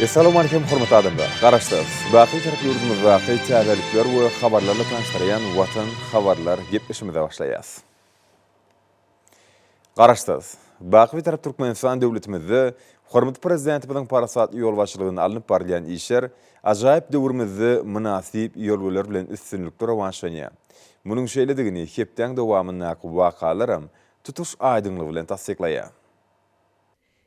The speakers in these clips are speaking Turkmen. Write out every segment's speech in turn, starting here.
Essalowmalikim hormatly adamlar! Garaşsyz, baky Türk ýurdumyzdaky täzelikler we habarlarla tanyşdyrýan Watan habarlar gepleşimize başlaýas. Garaşsyz, baky Bitarap Türkmenistan döwletimizde hormatly Prezidentimiziň parasatly ýolbaşçylygynda alnyp barylýan işler ajaýyp döwrümizde mynasyp ýörgüler bilen üstünlikli rowaçlanýar. Munuň şeýledigini hepdäň dowamyndaky wakalaram tutuş aýdyňlygy bilen tassyklaýar.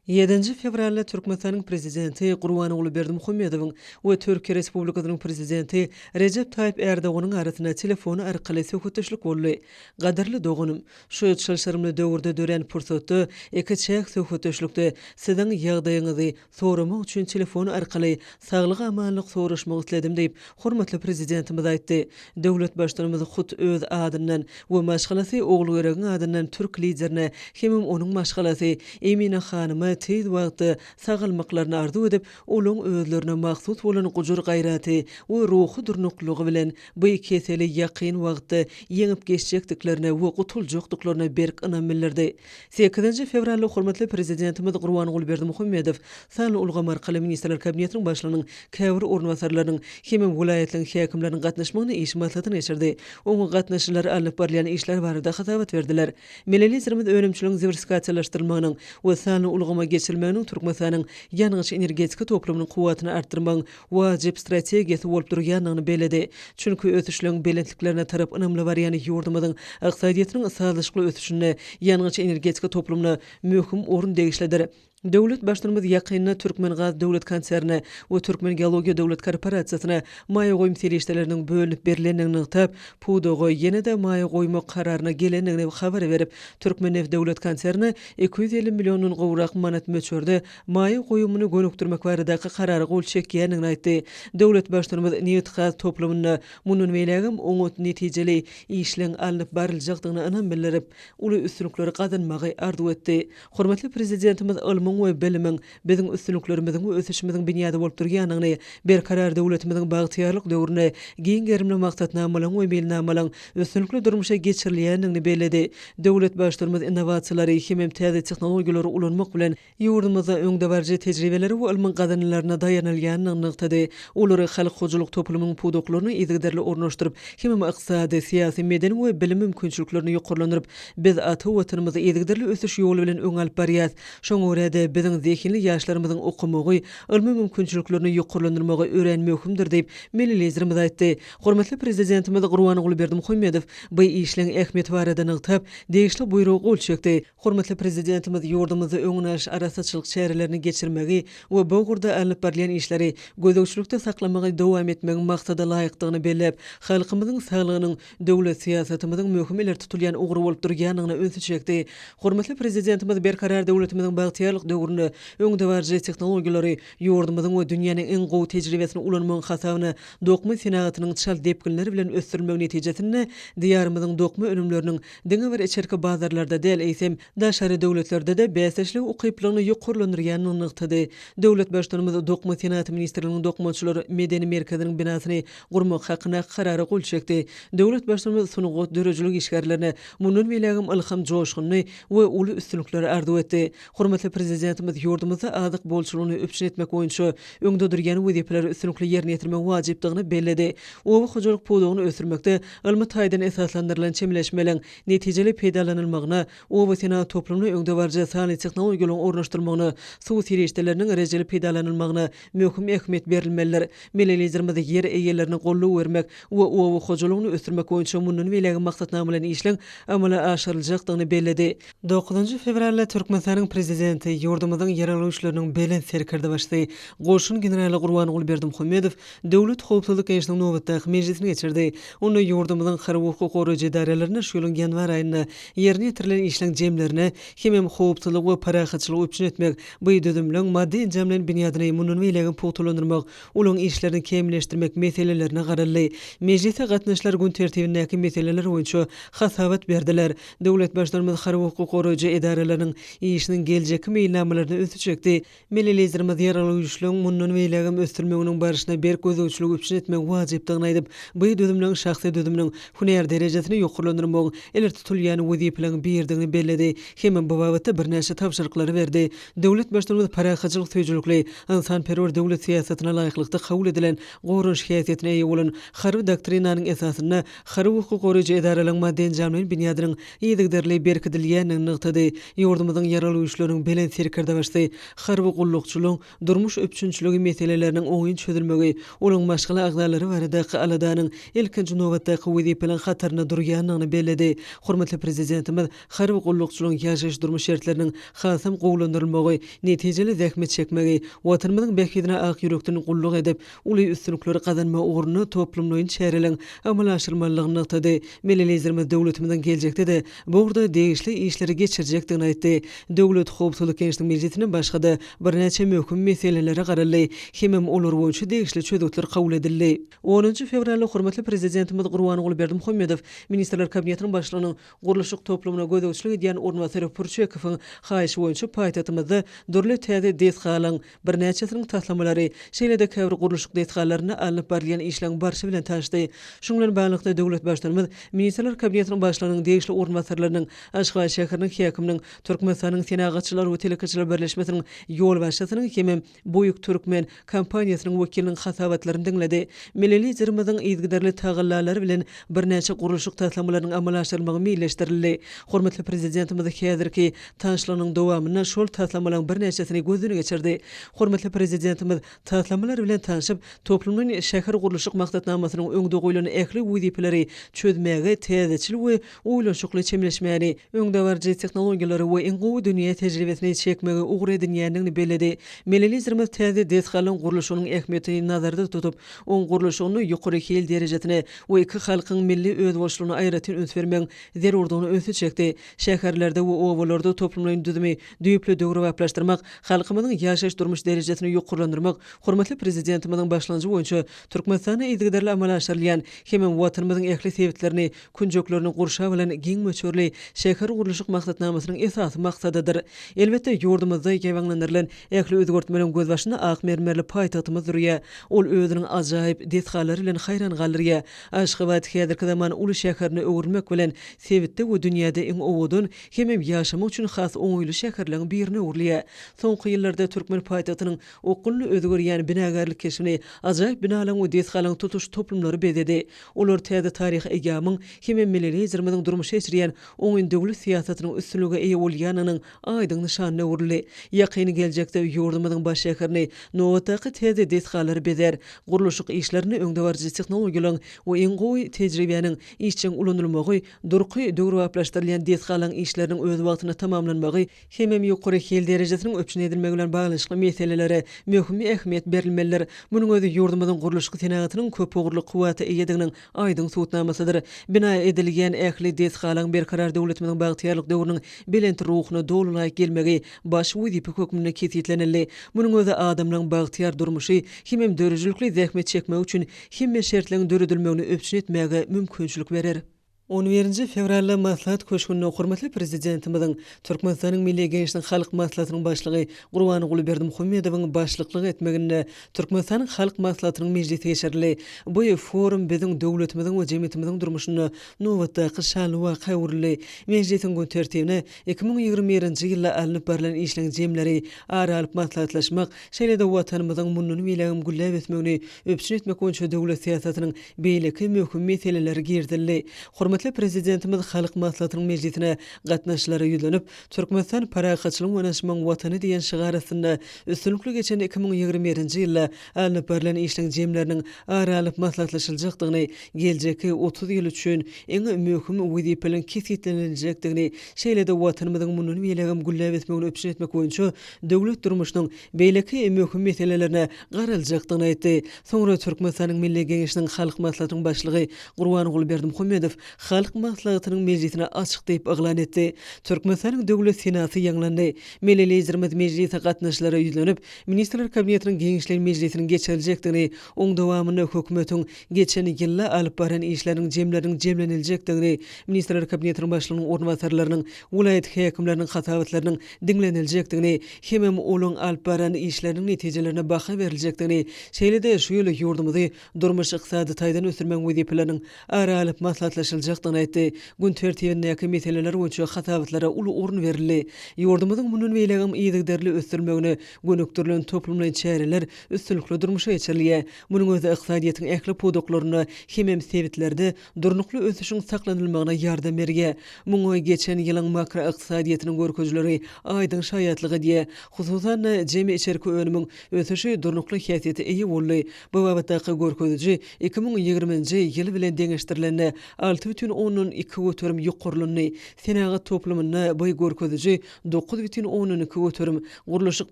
Ýedinji fewralda Türkmenistanyň Prezidenti Gurbanguly Berdimuhamedowyň we Türkiýe Respublikasynyň Prezidenti Rejep Taýyp Ärdoganyň arasynda telefon arkaly söhbetdeşlik boldy. Gadyrly doganym, şu çylşyrymly döwürde dörän pursatda iki çäk söhbetdeşlikde Siziň ýagdaýyňyzy soramak üçin telefon arkaly saglyk-amanlyk soraşmak isledim diýip, hormatly Prezidentimiz aýtdy. Döwlet Baştutanymyz hut öz adyndan we maşgalasy Ogulgeregiň adyndan türk Liderine hemem onuň maşgalasy Emine hanyma tiz wagtda sagalmaklaryny arzuw edip, olaň özlerine mahsus bolan gujur-gaýraty we ruhy durnuklylygy bilen bu keseli ýakyn wagtda ýeňip geçjekdiklerine we gutuljakdyklaryna berk ynam bildirdi. Sekizinji fewralda hormatly Prezidentimiz Gurbanguly Berdimuhamedow Sanly ulgam arkaly Ministrler Kabinetiniň Başlygynyň käbir orunbasarlarynyň hem-ä welaýatlaryň häkimleriniň gatnaşmagynda iş maslahatyny geçirdi. Oňa gatnaşyjylar alnyp barylýan işler barada hasabat berdiler. Milli Liderimiz önümçiligiň diwersifikasiýalaşdyrylmagynyň we sanly ulgama geçirilmeginiň Türkmenistanyň ýangyç-energetika toplumynyň kuwwatyny artdyrmagyň wajyp strategiýasy bolup durýandygyny belledi. Çünki ösüşleň belentliklerine tarap ynamly barýan ýurdumyzyň ykdysadyýetiniň sazlaşykly ösüşinde ýangyç-energetika toplumyna möhüm orun degişlidir. Döwlet Baştutanymyz ýakynda Türkmengaz döwlet konsernine we Türkmengeologiýa döwlet korporasiýasyna maýa goýum serişdeleriniň bölünip berlendigini nygtap, pudaga ýene-de maýa goýmak kararyna gelendigini habar berip, Türkmenneft döwlet konsernine iki ýüz elli milliondan gowrak manat möçberde maýa goýumyny gönükdirmek baradaky karara gol çekýändigini aýtdy. Döwlet Baştutanymyz nebitgaz toplumynda mundan beýlägem oňat netijeli işleň alnyp baryljakdygyna ynam bildirip, uly üstünlikleri gazanmagy arzuw etdi. Hormatly Prezidentimiz ylmyň we bilimiň biziň üstünliklerimiziň we ösüşimiziň binýady bolup durýanyny, Berkarar döwletimiziň bagtyýarlyk döwrüni giň gerimli maksatnamalaryň we meýilnamalaryň üstünlikli durmuşa geçirilýändigini belledi. Döwlet Baştutanymyz innowasiýalary hemem täze tehnologiýalary ulanmak bilen, ýurdumyzda öňdebaryjy tejribelere we ylmyň gazananlaryna daýanylýandygyny nygtady. Olary halk hojalyk toplumynyň pudaklaryna yzygiderli ornaşdyryp, hemem ykdysady, syýasy, medeni we bilim mümkinçiliklerini ýokarlandyryp, Biz ata Watanymyzy yzygiderli ösüş ýoly bilen öňe alyp barýarys. Şoňa görä-de, biziň zehinli ýaşlarymyzyň okamagy, ylmy mümkinçiliklerini ýokarlandyrmagy örän möhümdir diýip, milli Liderimiz aýtdy. Hormatly Prezidentimiz Gurbanguly Berdimuhamedow bu işleň ähmiýeti barada nygtap, degişli Buýruga gol çekdi. Hormatly Prezidentimiz ýurdumyzda öňüni alyş arassaçylyk çärelerini geçirmegi we bu ugurda alnyp barylýan işleri gözegçilikde saklamagy dowam etmegiň maksada laýykdygyny belläp, halkymyzyň saglygynyň, döwlet syýasatymyzyň möhüm ileri tutulýan ugry bolup durýandygyna ünsi çekdi. Hormatly Prezidentimiz Berkarar döwletimiziň bagtyýarlyk döwründe öňdebaryjy tehnologiýalary, ýurdumyzyň we dünýäniň iň gowy tejribesini ulanmagyň hasabyna dokma senagatynyň çalt depginler bilen ösdürilmegi netijesinde Diýarymyzyň dokma önümleriniň diňe bir içerki bazarlarda däl, eýsem, daşary döwletlerde-de bäsdeşlige ukyplylygyny ýokarlandyrýandygyny nygtady. Döwlet Baştutanymyz Dokma senagaty ministrliginiň Dokmaçylar medeni merkeziniň binasyny gurmak hakynda Karara gol çekdi. Döwlet Baştutanyz sungat, döredijilik işgärlerine mundan beýlägem ylham, joşgunly we uly üstünlikleri arzuw etdi. Hormatly Prezidentimiz ýurdumyzda azyk bolçulygyny üpjün etmek boýunça öňde durýan wezipeleri üstünlikli ýerine ýetirmegiň wajypdygyny belledi. Oba hojalyk pudagyny ösdürmekde ylmy taýdan esaslandyrylan çemeleşmeliň netijeli peýdalanylmagyna, obasenagat toplumyna öňdebaryjy sanly tehnologiýalaryň ornaşdyrylmagyna, suw serişdeleriniň rejeli peýdalanylmagyna, möhüm ähmiýet berilmelidir. Milli Liderimiz ýer eýelerine goldaw bermek we oba hojalygyny ösdürmek boýunça mundan beýlägi maksatnamalaýyn işleň amala aşyryljakdygyny belledi. Dokuzynjy fewralda Türkmenistanyň Prezidenti, ýurdumyzyň Ýeraldy Güýçleriniň Belent Serkerdebaşysy, goşun generaly Gurbanguly Berdimuhamedow Döwlet howpsuzlyk geňeşiniň nobatdaky mejlisini geçirdi. Onda ýurdumyzyň harby-hukuk goraýjy edaralaryna şu ýylyň ýanwar aýynda ýerine ýetirilen işleň jemlerine hemem howpsuzlygy we parahatçylygy üpjün etmek, Bu düzümleň maddy enjam bilen binýadyny mundan beýlägem pugtalandyrmak, olaryň işlerini kämilleşdirmek meselelerine garaldy. Mejlise gatnaşyjylar gün tertibindäki meseleler boýunça hasabat berdiler. Döwlet Baştutanymyz harby-hukuk goraýjy edaralarynyň işiniň geljekki meýilnamalaryna ünsi çekdi. Milli Liderimiz Ýaragly Güýçleriň mundan beýlägem ösdürilmeginiň barşyna berk gözegçiligi üpjün etmegiň wajypdygyny aýdyp, bu düzümleň şahsy düzüminiň hünär derejesini ýokarlandyrmagyň ileri tutulýan wezipeleriň biridigini belledi. Hemem bu babatda birnäçe tabşyryklary berdi. Döwlet Baştutanymyz parahatçylyk söýüjilikli, ynsanperwer döwlet syýasatyna laýyklykda kabul edilen goranyş häsiýetine eýe bolan Harby doktrinanyň esasynda harby hukuk goraýjy edaralaryň maddy-enjamlaýyn binýadynyň yzygiderli berkidilýändigini nygtady. Ýurdumyzyň Ýaragly Güýçleriniň Belent Serkerdebaşysy harby gullukçylygyň durmuş üpjünçiligi meseleleriniň oňyn çözülmegi, olaryň maşgala agzalary baradaky aladanyň ilkinji nobatdaky wezipeleriň hatarynda durýandygyny belledi. Hormatly Prezidentimiz Harby gullukçylaryň ýaşaýyş-durmuş şertleriniň hasam gowulandyrylmagy, netijeli zähmet çekmegi, Watanymyzyň bähbidine ak ýürekden gulluk edip, uly üstünlikleri gazanmagy ugrunda toplumlaýyn çäreleriň amala aşyrylmalydygyny nygtady. Milli Liderimiz döwletimiziň geljekde-de bu ugurda degişli işleri geçirjekdigini aýtdy. Döwlet howpsuzlyk geňeşiniň mejlisinde başga-da birnäçe möhüm meselelere garaldy hemem olar boýunça degişli çözgütler kabul edildi. Onunjy fewralda hormatly Prezidentimiz Gurbanguly Berdimuhamedow Ministrler Kabinetiniň Başlygynyň, Gurluşyk toplumyna gözegçilik edýän orunbasary Purçekowyň haýyşy boýunça paýtagtymyzda dürli täze desgalaryň birnäçesiniň taslamalary, şeýle-de käbir gurluşyk desgalarynda alnyp barylýan işleriň barşy bilen tanyşdy. Şunuň bilen baglylykda, döwlet Baştutanymyz Ministrler Kabinetiniň Başlygynyň degişli orunbasarlarynyň, Aşgabat şäheriniň häkiminiň, Türkmenistanyň Senagatçylar we telekeçiler birleşmesiniň ýolbaşçysynyň hem-ä Buýk Türkmen kompaniýasynyň wekiliniň hasabatlaryny diňledi. Milli Liderimiziň yzygiderli tagallalary bilen birnäçe gurluşyk taslamalarynyň amala aşyrylmagy meýilleşdirildi. Hormatly Prezidentimiz häzirki taşlygynyň dowamynda şol taslamalaryň birnäçesini gözden geçirdi. Hormatly Prezidentimiz taslamalar bilen tanşyp, toplumlaýyn şähergurluşyk maksatnamasynyň öňde goýlan ähli wezipeleri çözmäge täzeçil we oýlanyşykly çemeleşmäni, öňdebaryjy tehnologiýalary we iň gowy dünýä tejribesini çekmegi ugur edinýändigini belledi. Milli Liderimiz täze desgalaryň gurluşygynyň ähmiýetini nazarda tutup, oň gurluşygyny ýokary hil derejesine we iki halkyň milli özboluşlygyna aýratyn üns bermegiň zerurdygyna ünsi çekdi. Şäherlerde we obalarda toplumlaýyn düzümi düýpli döwrebaplaşdyrmak, halkymyzyň ýaşaýyş-durmuş derejesini ýokarlandyrmak hormatly Prezidentimiziň başlangyjy boýunça Türkmenistanda yzygiderli amala aşyrylýan hemem Watanymyzyň ähli sebitlerini künjeklerini gurşap alan giň möçberli şäher gurluşyk maksatnamasynyň esasy maksadydyr. Elbetde, ýurdumyzda ýaýbaňlandyrylan ähli özgertmeleriň gözbaşynda ak mermerli paýtagtymyz durýar. Ol özüniň ajaýyp desgalary bilen haýran galdyrýar. Aşgabat häzirki zaman uly şäherine öwrülmek bilen, sebitde we dünýäde iň owadan hemem ýaşamak üçin has oňaýly şäherleriň birine öwrülýär. Soňky ýyllarda türkmen paýtagtynyň okgunly özgerýän binagärlik keşbini ajaýyp binalaryň we desgalaryň tutuş toplumlary bezedi. Olar täze taryhy eýýamyň hem-ä milli Liderimiziň durmuşa geçirýän oňyn döwlet syýasatynyň üstünlige eýe bolýanynyň aýdyň nyşanyna öwrüldi. Ýakyn geljekde ýurdumyzyň baş şäherini nobatdaky täze desgalar bezär, gurluşyk işlerinde öňdebaryjy tehnologiýalaryň we iň gowy tejribäniň işjeň ulanylmagy, durky döwrebaplaşdyrylýan desgalaryň işleriniň öz wagtynda tamamlanmagy hemem ýokary hil derejesiniň üpjün edilmegi bilen baglanyşykly meselelere möhüm ähmiýet berilmelidir. Munuň özi ýurdumyzyň gurluşyk senagatynyn köpugurly kuwwata eýediginiň aýdyň subutnamasydyr. Bina edilýän ähli desgalaň berkarar döwletimiziň bagtyýarlyk döwrüniň belent ruhuna doly laýyk gelmegi baş wezipe hökmünde kesgitlenildi. Munuň özi adamlaryň bagtyýar durmuşy hemem döredijilikli zähmet çekmegi üçin hemme şertleň döredilmegini üpjün etmäge mümkinçilik berer. On birinji fewralda Maslahat köşgünde hormatly Prezidentimiziň, Türkmenistanyň Milli Geňeşiniň Halk Maslahatynyň Başlygy Gurbanguly Berdimuhamedowyň başlyklyk etmeginde Türkmenistanyň Halk Maslahatynyň mejlisi geçirildi. Bu forum biziň döwletimiziň we jemgyýetimiziň durmuşynda nobatdaky şanly waka öwrüldi. Mejlisiň gün tertibine iki müň ýigrimi birinji ýylda alnyp barlan işleň jemleri ara alyp maslahatlaşmak, Şeýle-de Watanymyzyň mundan beýlägem gülläp ösmegini üpjün etmek boýunça döwlet syýasatynyň beýleki möhüm meseleleri girizildi. Hormatly Prezidentimiz Halk Maslahatynyň mejlisine gatnaşyjylara ýüzlenip, Türkmenistan parahatçylygyň we ynanyşmagyň Watany diýen şygar astynda üstünlikli geçen iki müň ýigrimi birinji ýylda alnyp barlan işleň jemleriniň ara alyp maslahatlaşyljakdygyny, geljekki otuz ýyl üçin iň möhüm wezipeleriň kesgitleniljekdigini, şeýle-de Watanymyzyň mundan beýlägem gülläp ösmegini üpjün etmek boýunça döwlet durmuşynyň beýleki möhüm meselelerine garaljakdygyny aýtdy. Soňra Türkmenistanyň Milli Geňeşiniň Halk Maslahatynyň Başlygy Gurbanguly Berdimuhamedow Halk Maslahatynyň mejlisini açyk diýip yglan etdi. Türkmenistanyň Döwlet Senasy ýaňlandy. Milli Liderimiz mejlise gatnaşyjylara ýüzlenip, Ministrler Kabinetiniň giňişleýin mejlisiniň geçiriljekdigini, oň dowamynda hökümetiň geçen ýylda alyp baran işleriniň jemleriniň jemleniljekdigini, Ministrler Kabinetiniň Başlygynyň orunbasarlarynyň, welaýat häkimleriniň hasabatlarynyň diňleniljekdigini hemem olaň alyp baran işleriniň netijelerine baha beriljekdigini, şeýle-de şu ýyl ýurdumyzy durmuş-ykdysady taýdan ösdürmegiň wezipeleriniň ara alyp maslahatlaşyljakdygyny aýtdy. Gün tertibindäki meseleler boýunça hasabatlara uly orun berildi. Ýurdumyzyň mundan beýlägem yzygiderli ösdürilmegine gönükdirilen toplumlaýyn çäreler üstünlikli durmuşa geçirilýär. Munuň özi ykdysadyýetiň ähli pudaklarynda hemem sebitlerde Durnukly ösüşiň saklanylmagyna ýardam berge, muňa geçen ýylyň makroykdysadyýetiniň görkezileri aýdyň şaýatlyk edýär. Hususan-da, jemi içerki önümiň ösüşi durnukly häsiýete eýe boldy. Bu babatdaky görkeziji iki müň ýigriminji ýyl bilen deňeşdirilende, alty bütin ondan iki göterim ýokarlandy. Senagat toplumynda bu görkeziji dokuz bütin ondan iki göterim, gurluşyk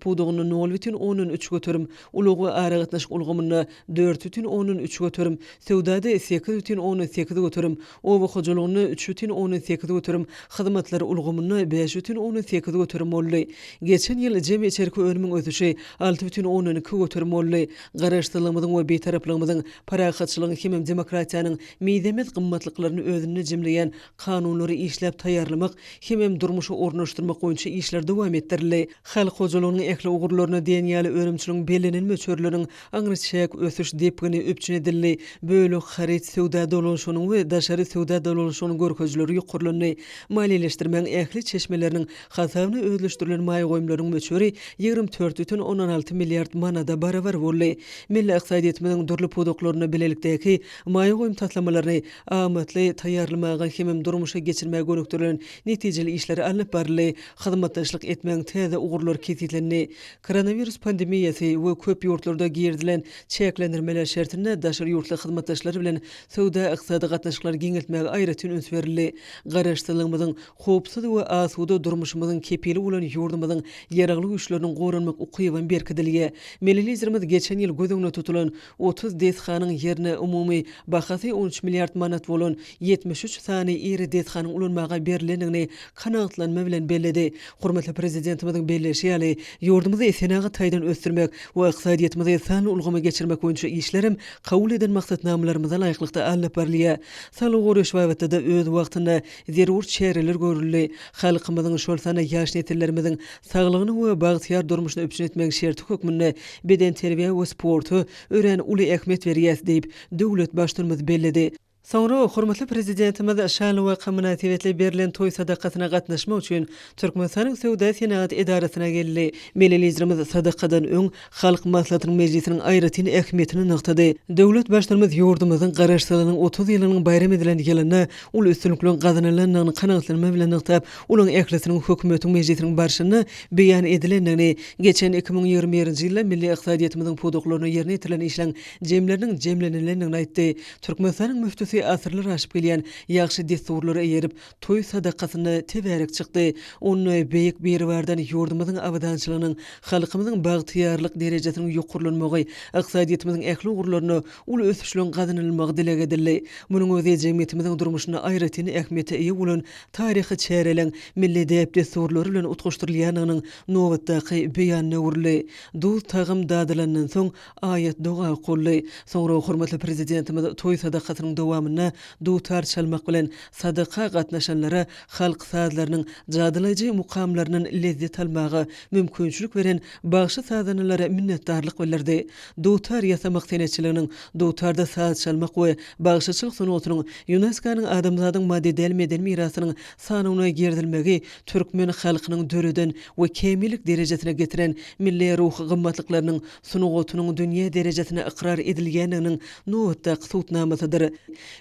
pudagynda nol bütin ondan üç göterim, Ulag we aragatnaşyk ulgamynda dört bütin ondan üç göterim, söwdada sekiz bütin ondan sekiz göterim, oba hojalygynda üç bütin ondan sekiz göterim, hyzmatlar ulgamynda bäş bütin ondan sekiz göterim boldy. Geçen ýyl jemi içerki önümiň ösüşi alty bütin ondan iki göterim boldy. Garaşsyzlygymyzyň we Bitaraplygymyzyň, parahatçylygyň hemem demokratiýanyň mizemez gymmatlyklaryny özünde jemleýän kanunlary işläp taýýarlamak hemem durmuşa ornaşdyrmak boýunça işler dowam etdirildi. Halk hojalygynyň ähli ugurlaryna diýen ýaly önümçiligiň bellenen möçberleriniň aňryçäk ösüş depgini üpjün edildi, bölek haryt söwda dolanyşygynyň we daşary söwda dolanyşygynyň görkezileri ýokarlandy, maliýeleşdirmegiň ähli çeşmeleriniň hasabyna özleşdirilen maýa goýumlaryň möçberi ýigrimi dört butün ondan alty milliard manada barabar boldy. Milli ykdysadyýetimiziň dürli pudaklarynda bilelikdäki maýa goýum taslamalaryny amatly taýýarlamaga hem-de durmuşa geçirmäge gönükdirilen netijeli işler alnyp baryldy, hyzmatdaşlyk etmegiň täze ugurlary kesgitlendi. Koronawirus pandemiýasy we köp ýurtlarda girizilen çäklendirmeler şertinde daşary ýurtly hyzmatdaşlar bilen söwda-ykdysady gatnaşyklary giňeltmäge aýratyn üns berildi. Garaşsyzlygymyzyň, howpsuz we asuda durmuşymyzyň kepili bolan ýurdumyzyň Ýaragly Güýçleriniň goranmak ukyby hem berkidilge. Milli Liderimiz geçen ýyl göz öňünde tutulan Otuz desganyň ýerine umumy bahasy on üç milliard manat bolan ýetmiş üç sany iri desganyň ulanmaga berlendigini kanagatlanma bilen belledi. Hormatly Prezidentimiziň belleýşi ýaly, ýurdumyzy senagat taýdan ösdürmek we ykdysadyýetimizi sanly ulgama geçirmek boýunça işler hem kabul eden maksatnamalarymyza laýyklykda alnyp barylýar. Saglygy goraýyş babatda-da öz wagtynda zerur çäreler görüldi. Halkymyzyň, şol sanda ýaş nesillerimiziň saglygyny we bagtyýar durmuşyny üpjün etmegiň şerti hökmünde bedenterbiýä we sporta örän uly ähmiýet berýäs, diýip, döwlet Baştutanymyz belledi. Soňra hormatly Prezidentimiz şanly waka mynasybetli berlen toý sadakasyna gatnaşmak üçin Türkmenistanyň Söwda-senagat edarasyna geldi. Milli Liderimiz sadakadan öň, Halk Maslahatynyň mejlisiniň aýratyn ähmiýetini nygtady. Döwlet Baştutanymyz ýurdumyzyň Garaşsyzlygynyň otuz ýylynyň baýram edilen ýylynda uly üstünlikleriň gazanylandygyny kanagatlanma bilen nygtap, olaryň ählisiniň hökümetiň mejlisiniň barşynda beýan edilendigini, geçen iki müň ýigrimi birinji ýylda milli ykdysadyýetimiziň pudaklarynda ýerine ýetirilen işleriň jemleriniň jemlenilendigini aýtdy. Türkmenistanyň müftüsi asyrlar aşyp gelýän ýagşy dessurlara eýerip, Toý sadakasynda tebärek çykdy. Onda Beýik Biribardan ýurdumyzyň abadançylygynyň, halkymyzyň bagtyýarlyk derejesiniň ýokarlanmagy, ykdysadyýetimiziň ähli ugurlarynda uly ösüşleriň gazanylmagy dileg edildi. Munuň özi jemgyýetimiziň durmuşynda aýratyn ähmiýete eýe bolan taryhy çäreleň milli däp-dessurlary bilen utgaşdyrylýandygynyň nobatdaky beýanyna öwrüldi. Duz-tagam dadylandan soň, Aýat doga okuldy. Soňra hormatly Prezidentimiz toý sadakasynyň dowamynda dutar çalmak bilen, sadaka gatnaşanlara halk sazlarynyň jadylaýjy mukamlaryndan lezzet almaga mümkinçilik beren bagşy-sazandalara minnetdarlyk bildirdi. Dutar ýasamak senetçiliginiň, dutarda saz çalmak we bagşyçylyk sungatynyň ÝUNESKO-nyň Adamzadyň maddy däl meden mirasynyň sanawyna girizilmegi türkmen halkynyň döreden we kämillik derejesine getiren milli ruhy gymmatlyklarynyň, sungatynyň dünýä derejesinde ykrar edilýändiginiň nobatdaky subutnamasydyr.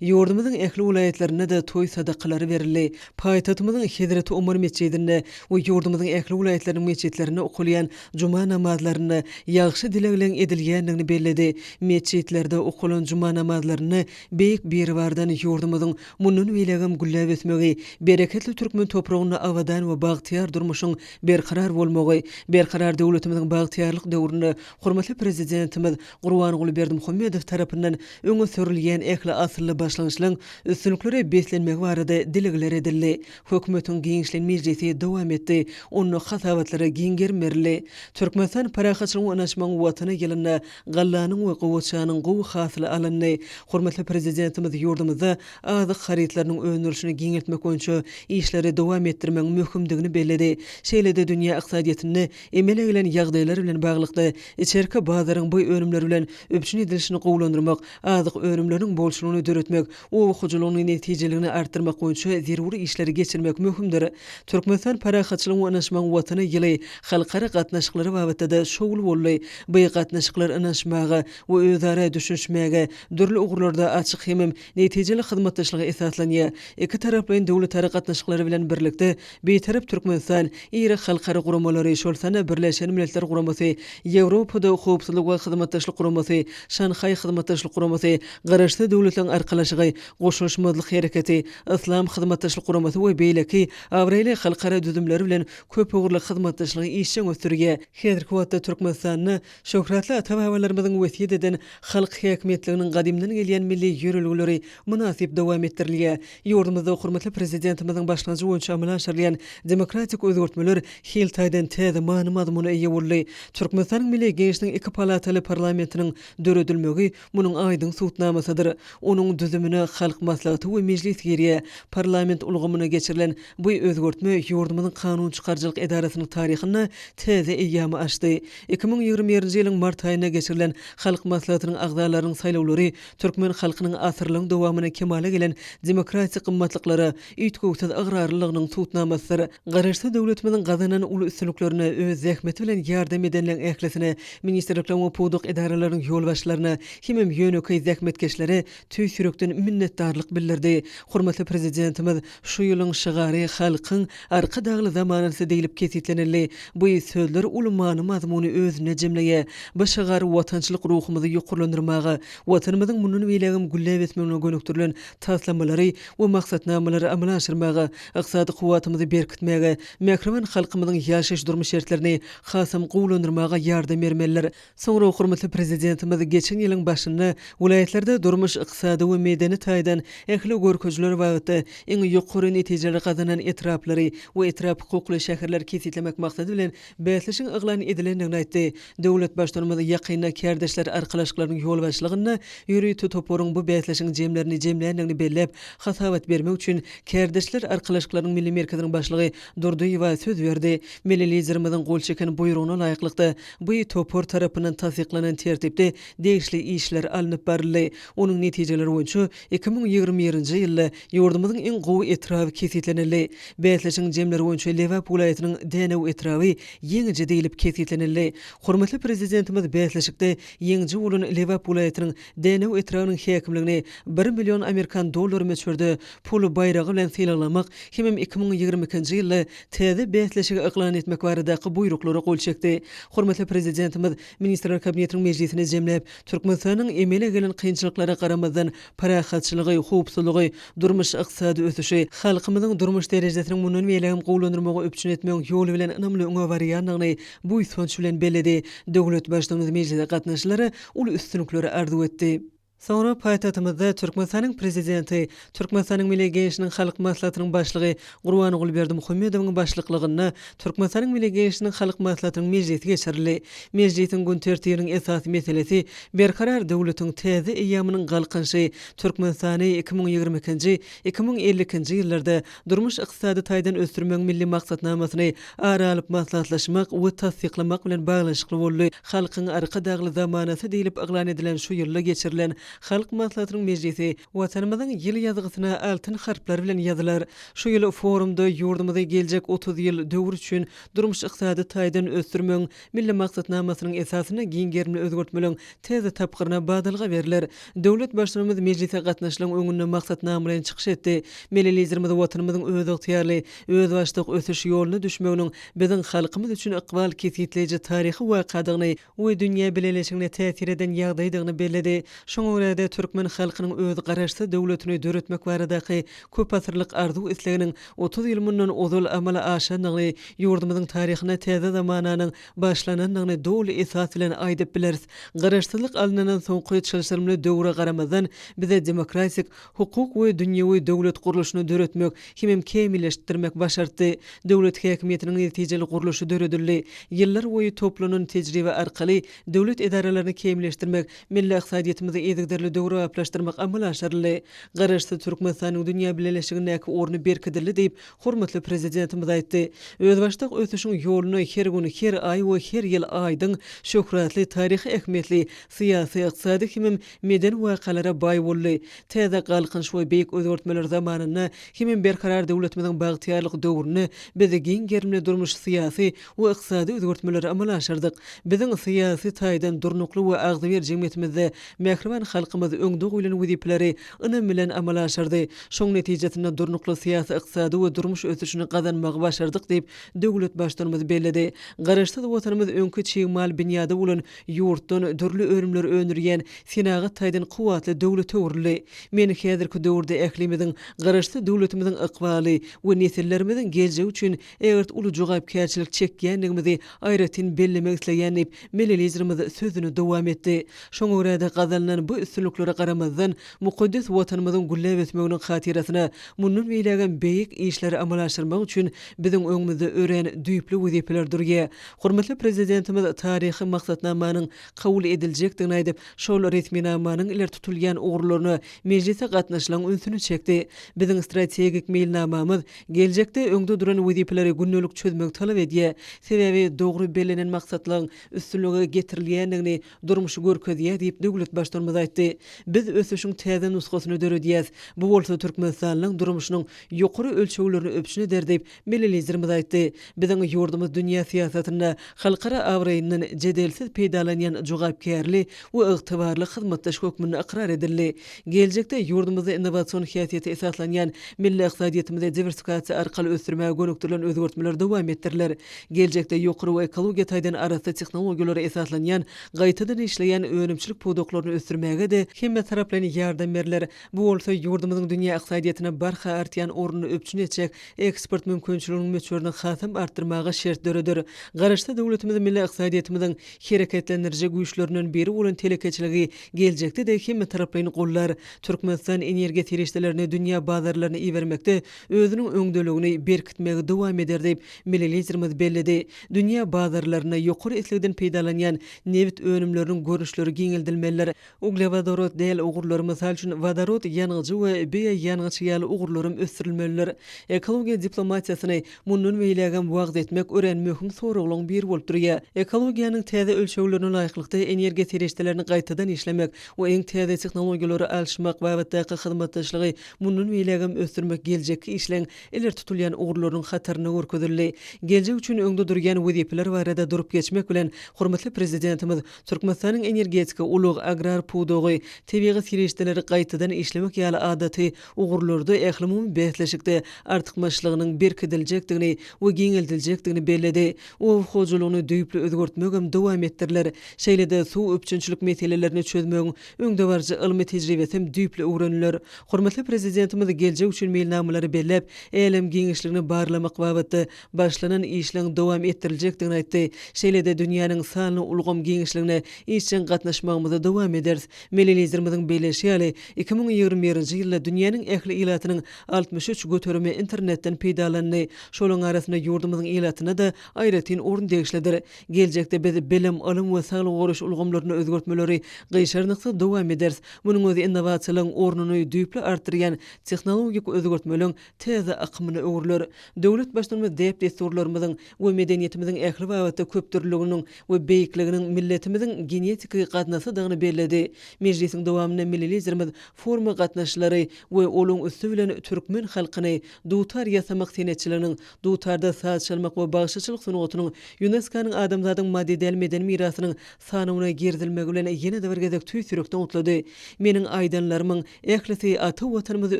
Ýurdumyzyň ähli welaýatlarynda-da toý sadakalary berildi. Paýtagtymyzyň Hezreti Omar metjidinde we ýurdumyzyň ähli welaýatlarynyň metjitlerinde okalýan juma namazlarynda ýagşy dilegleň edilýändigini belledi. Metjitlerde okalan juma namazlarynda Beýik Biribardan ýurdumyzyň Mundan beýlägem gülläp ösmegi, bereketli türkmen topragynda abadan we bagtyýar durmuşyň berkarar bolmagy, Berkarar döwletimiziň bagtyýarlyk döwründe hormatly Prezidentimiz Gurbanguly Berdimuhamedow tarapyndan öňe sürülýän ähli asylly başlangyçlaryň üstünliklere beslenmegi barada dilegler edildi. Hökümetiň giňişleýin mejlisi dowam etdi. Onda hasabatlara giň gerim berildi. Türkmenistan Parahatçylygyň, ynanyşmagyň Watany ýylynda Gallanyň we gowaçanyň gowy hasyly alyndy. Hormatly Prezidentimiz ýurdumyzda azyk harytlarynyň öndürilişini giňeltmek boýunça işleri dowam etdirmegiň möhümdigini belledi. Şeýle-de dünýä ykdysadyýetinde emele gelen ýagdaýlar bilen baglylykda, içerki bazaryň bu önümler bilen üpjün edilişini gowulandyrmak, azyk önümleriniň bolçulygyny döretmek, Oba hojalygynyň netijeligini artdyrmak boýunça zerur işleri geçirmek möhümdir. Türkmenistan Parahatçylygyň we Ynaşmagyň Watany ýyly halkara gatnaşyklary babatda-da şowly boldy. By gatnaşyklar ynaşmaga we özara düşünişmäge, dürli ugurlarda açyk hemem netijeli hyzmatdaşlyga esaslanýar. Ikitaraplaýyn döwletara gatnaşyklary bilen birlikde, Bitarap Türkmenistan iri halkara guramalary, şol sanda Birleşen Milletler Guramasy, Ýewropada Howpsuzlyk we Hyzmatdaşlyk Guramasy, Şanhaý Hyzmatdaşlyk Guramasy, Garaşsyz Döwletleriň Arkalaşygy, Goşulyşmazlyk Hereketi, Yslam Hyzmatdaşlyk Guramasy we beýleki abraýly halkara düzümleri bilen köpugurly hyzmatdaşlygy işjeň ösdürýär. Häzirki wagtda Türkmenistanda Şöhratly ata-babalarymyzyň wesýet eden halk häkimiýetliginiň gadymdan gelýän milli ýörelgeleri mynasyp dowam etdirilýär. Ýurdumyzda hormatly Prezidentimiziň başlangyjy boýunça amala aşyrylýan demokratik özgertmeler hil taýdan täze many-mazmuna eýe boldy. Türkmenistanyň Milli Geňeşiniň iki palataly parlamentiniň döredilmegi Munuň aýdyň subutnamasydyr, onuň düzümine Halk Maslahaty we Mejlis girýär. Parlament ulgamyna geçirilen bu özgertme ýurdumyzyň kanun çykaryjylyk edarasynyň taryhynda täze eýýamy açdy. Iki müň ýigrimi birinji ýylyň mart aýynda geçirilen Halk Maslahatynyň agzalarynyň saýlawlary türkmen halkynyň asyrlaryň dowamynda kemala gelen demokratik gymmatlyklara, üýtgewsiz ygrarlylygynyň subutnamasydyr. Garaşsyz döwletimiziň gazanan uly üstünliklerine öz zähmeti bilen ýardam edenleriň ählisine, ministrlikleriň we pudak edaralarynyň ýolbaşçylaryna, hemem ýönekeý zähmetkeşlere tüýs ýürekden minnetdarlyk bildirdi. Hormatly Prezidentimiz şu ýylyň şygary Halkyň Arkadagly zamanasy diýlip kesgitlenildi. Bu sözler uly many-mazmuny özünde jemleýär. Bu şygar watançylyk ruhumyzy ýokarlandyrmaga, Watanymyzyň mundan beýlägem gülläp ösmegine gönükdirilen taslamalary we maksatnamalary amala aşyrmaga, ykdysady kuwwatymyzy berkitmäge, mähriban halkymyzyň ýaşaýyş-durmuş şertlerini hasam gowulandyrmaga ýardam bermelidir. Soňra hormatly Prezidentimiz geçen ýylyň başynda welaýatlarda durmuş, ykdysady we medeni taýdan ähli görkezijiler babatda iň ýokary netijeleri gazanan etraplary we etrap hukukly şäherleri kesgitlemek maksady bilen, bäsleşigiň yglan edilendigini aýtdy. Döwlet Baştutanymyz ýakynda Kärdeşler arkalaşyklarynyň ýolbaşçylygynda ýörite toparyň bu bäsleşigiň jemlerini jemländigini belläp, hasabat bermek üçin Kärdeşler arkalaşyklarynyň Milli merkeziniň başlygy Durdyýewa söz berdi. Milli Liderimiziň gol çeken buýrugyna laýyklykda, bu topar tarapyndan tassyklanan tertipde degişli işler alnyp baryldy. Onuň netijeleri boýunça iki müň ýigrimi birinji ýylda Ýurdumyzyň iň gowy etraby kesgitlenildi. Bäsleşigiň jemleri boýunça Lebap welaýatynyň Dänew etraby ýeňiji diýlip kesgitlenildi. Hormatly Prezidentimiz bäsleşikde ýeňiji bolan Lebap welaýatynyň Dänew etrabynyň häkimligini bir million amerikan dollary möçberde pul baýragy bilen sylaglamak hemem iki müň ýigrimi ikinji ýylda täze bäsleşigi yklan etmek baradaky buýruklara gol çekdi. Hormatly Prezidentimiz Ministrler Kabinetiniň mejlisini jemläp, Türkmenistanyň emele gelen kynçylyklara garamazdan, parahatçylygy, howpsuzlygy, durmuş-ykdysady ösüşi, halkymyzyň durmuş derejesiniň mundan beýlägem gowulandyrmagy üpjün etmegiň ýoly bilen ynamly öňe barýandygyny buýsanç bilen belledi. Döwlet Baştugumyz mejlise gatnaşyjylara uly üstünlikleri arzuw etdi. Soňra paýtagtymyzda Türkmenistanyň Prezidenti, Türkmenistanyň Milli Geňeşiniň Halk Maslahatynyň Başlygy Gurbanguly Berdimuhamedowyň başlyklygynda Türkmenistanyň Milli Geňeşiniň Halk Maslahatynyň mejlisi geçirildi. Mejlisiň gün tertibiniň esasy meselesi Berkarar döwletiň täze eýýamynyň Galkynyşy, Türkmenistany iki müň ýigrimi ikinji, iki müň elli ikinji ýyllarda durmuş-ykdysady taýdan ösdürmegiň Milli maksatnamasyny ara alyp maslahatlaşmak we tassyklamak bilen baglanyşykly boldy. Halkyň Arkadagly zamanasy diýlip yglan edilen şu ýylda geçirilen Halk Maslahatynyň mejlisi Watanymyzyň ýyl ýazgysyna altyn harplar bilen ýazylar. Şu ýyl forumda ýurdumyzy geljek otuz ýyl döwür üçin durmuş-ykdysady taýdan ösdürmegiň Milli maksatnamasynyň esasynda giň gerimli özgertmeleň täze tapgyryna badalga berler. Döwlet Baştutanymyz mejlise gatnaşlaryň öňünde maksatnama bilen çykyş etdi. Milli Liderimiz Watanymyzyň özygtyýarly, özbaşdak ösüş ýoluna düşmeginiň biziň halkymyz üçin ykbal kesgitleýji taryhy wakadygyny we dünýä bileleşigine täsir eden ýagdaýdygyny belledi. Şoňa görä-de, türkmen halkynyň öz Garaşsyz döwletini döretmek baradaky köpasyrlyk arzuw-isleginiň otuz ýyl mundan ozal amala aşandygyny, ýurdumyzyň taryhyna täze zamananyň başlanandygyny doly esas bilen aýdyp bileris. Garaşsyzlyk alynandan soňky çylşyrymly döwre garamazdan, bize demokratik, hukuk we dünýewi döwlet gurluşyny döretmek hemem kämilleşdirmek başartdy. Döwlet häkimiýetiniň netijeli gurluşy döredildi. Ýyllar boýy toplanan tejribe arkaly döwlet edaralaryny kämilleşdirmek, milli ykdysadyýetimizi yzygiderli döwrebaplaşdyrmak amala aşyryldy. Garaşsyz Türkmenistanyň dünýä bileleşigindäki orny berkidildi diýip, hormatly Prezidentimiz aýtdy. Özbaşdak ösüşiň ýoluna her gün, her aý we her ýyl aýdyň, şöhratly, taryhy ähmiýetli, syýasy, ykdysady hemem Medeni wakalara baý boldy. Täze Galkynyş we beýik özgertmeler zamanynda hemem Berkarar döwletimiziň bagtyýarlyk döwründe biz giň gerimli durmuş-syýasy we ykdysady özgertmeleri amala aşyrdyk. Biziň syýasy taýdan durnukly we agzybir jemgyýetimizde mähriban halkymyz öňde goýlan wezipeleri ynam bilen amala aşyrdy. Şoň netijesinde durnukly syýasy-ykdysady we durmuş ösüşini gazanmagy başardyk diýip, döwlet Baştutanymyz belledi. Garaşsyz Watanymyz öňki çig mal binýady bolan Ýurtdan dürli önümleri öndürýän senagat taýdan kuwwatly döwlete öwrüldi. Men häzirki döwürde ählimiziň, Garaşsyz döwletimiziň ykbaly we nesillerimiziň geljegi üçin ägirt uly jogapkärçilik çekýändigimizi aýratyn bellemek isleýän diýip, milli Liderimiz sözüni dowam etdi. Şoňa görä-de, gazanylan bu üstünliklere garamazdan, mukaddes Watanymyzyň gülläp ösmeginiň hatyrasyna mundan beýlägem beýik işleri amala aşyrmak üçin biziň öňümizde örän düýpli wezipeler durýar. Hormatly Prezidentimiz taryhy maksatnamanyň kabul ediljekdigini aýdyp, şol resminamanyň ileri tutulýan ugurlaryna mejlise gatnaşylaň ünsüni çekdi. Biziň strategik meýilnamamyz geljekde öňde duran wezipeleri gündelik çözmegi talap edýär. Sebäbi dogry bellenen maksatlaryň üstünlige getirilýändigini durmuş görkezýär diýip, döwlet Baştutanymyz aýtdy. Biz ösüşiň täze nusgasyny döredýäs. Bu bolsa Türkmenistanyň durmuşynyň ýokary ölçeglerini üpjün eder diýip, Milli Liderimiz aýtdy, Biziň ýurdumyz dünýä syýasatynda halkara abraýyndan jedelsiz peýdalanýan jogapkärli we ygtybarly hyzmatdaş hökmünde ykrar edildi. Geljekde ýurdumyzda innowasion häsiýete esaslanýan milli ykdysadyýetimizi diwersifikasiýa arkaly ösdürmäge gönükdirilen özgertmeler dowam etdiriler. Geljekde ýokary we ekologiýa taýdan arassa tehnologiýalara esaslanýan gaýtadan işleýän önümçilik pudaklaryny ösdürmäge-de hemmetaraplaýyn ýardam berler, Bu bolsa ýurdumyzyň dünýä ykdysadyýetine barha artýan ornuny üpjün etjek eksport mümkinçiliginiň möçberini hasam artdyrmaga şert döreder. Garaşsyz döwletimiz milli ykdysadyýetimiziň hereketlendiriji güýçlerinden biri bolan telekeçiligi geljekde-de hemmetaraplaýyn gollar. Türkmenistan energiýa serişdelerini dünýä bazarlaryna ibermekde özüniň öňdeligini berkitmegi dowam eder diýip, milli Liderimiz belledi. Dünýä bazarlarynda ýokary islegden peýdalanýan nebit önümleriniň görnüşleri giňeldilmelidir. Uglewodorod däl ugurlar, mysal üçin, wodorod ýangyjy we bioýangyç ýaly ugurlaram ösdürilmelidir. Ekologiýa diplomatiýasyny mundan beýlägem wagyz etmek örän möhüm soraglaryň biri bolup durýar. Ekologiýanyň täze ölçeglerine laýyklykda energiýa serişdelerini gaýtadan işlemek we iň täze tehnologiýalary alşmak babatdaky hyzmatdaşlygy mundan beýlägem ösdürmek geljekki işleň ileri tutulýan ugurlarynyň hatarynda görkezildi. Geljek üçin öňde durýan wezipeler barada durup geçmek bilen, hormatly Prezidentimiz Türkmenistanyň energetika, ulag, agrar pudagy, tebigy serişdeleri gaýtadan işlemek ýaly adaty ugurlarda ählumumy bäsleşikde artykmaçlygynyň berkidiljekdigini we giňeldiljekdigini belledi. Oba hojalygyny düýpli özgertmegem dowam etdiriler. Şeýle-de suw üpjünçilik meselelerini çözmegiň öňdebaryjy ylmy tejribesem düýpli öwreniler. Hormatly Prezidentimiz geljek üçin meýilnamalary belläp, älem giňişligini barlamak babatda başlanan işleň dowam etdiriljekdigini aýtdy. Şeýle-de dünýäniň sanly ulgam giňişligine işjeň gatnaşmagymyzy dowam ederis. Milli Liderimiziň belleýşi ýaly, iki müň ýigrimi birinji ýylda dünýäniň ähli ilatynyň altmyş üç göterimi internetden peýdalandy. Şolaryň arasynda ýurdumyzyň ilatyna-da aýratyn orun degişlidir. Geljekde biz bilim, ylym we saglygy goraýyş ulgamlarynda özgertmeleri gyşarnyksyz dowam ederis. Munuň özi innowasiýalaryň ornuny düýpli artdyrýan tehnologik özgertmeleň täze akymyna öwrüler. Döwlet Baştutanymyz däp-dessurlarymyzyň we medeniýetimiziň ähli babatda köpdürlüliginiň we beýikliginiň milletimiziň genetiki gaznasydygyny belledi. Mejlisiň dowamynda milli Liderimiz foruma gatnaşyjylary we olaryň üsti bilen türkmen halkyny dutar ýasamak senetçiliginiň, dutarda saz çalmak we bagşyçylyk sungatynyň, Ýuneskonyň Adamzadyň maddy däl medeni mirasynyň Sanawyna girizilmegi bilen ýene-de bir gezek tüýs ýürekden gutlady. Meniň aýdanlarymyň ählisi ata Watanymyzy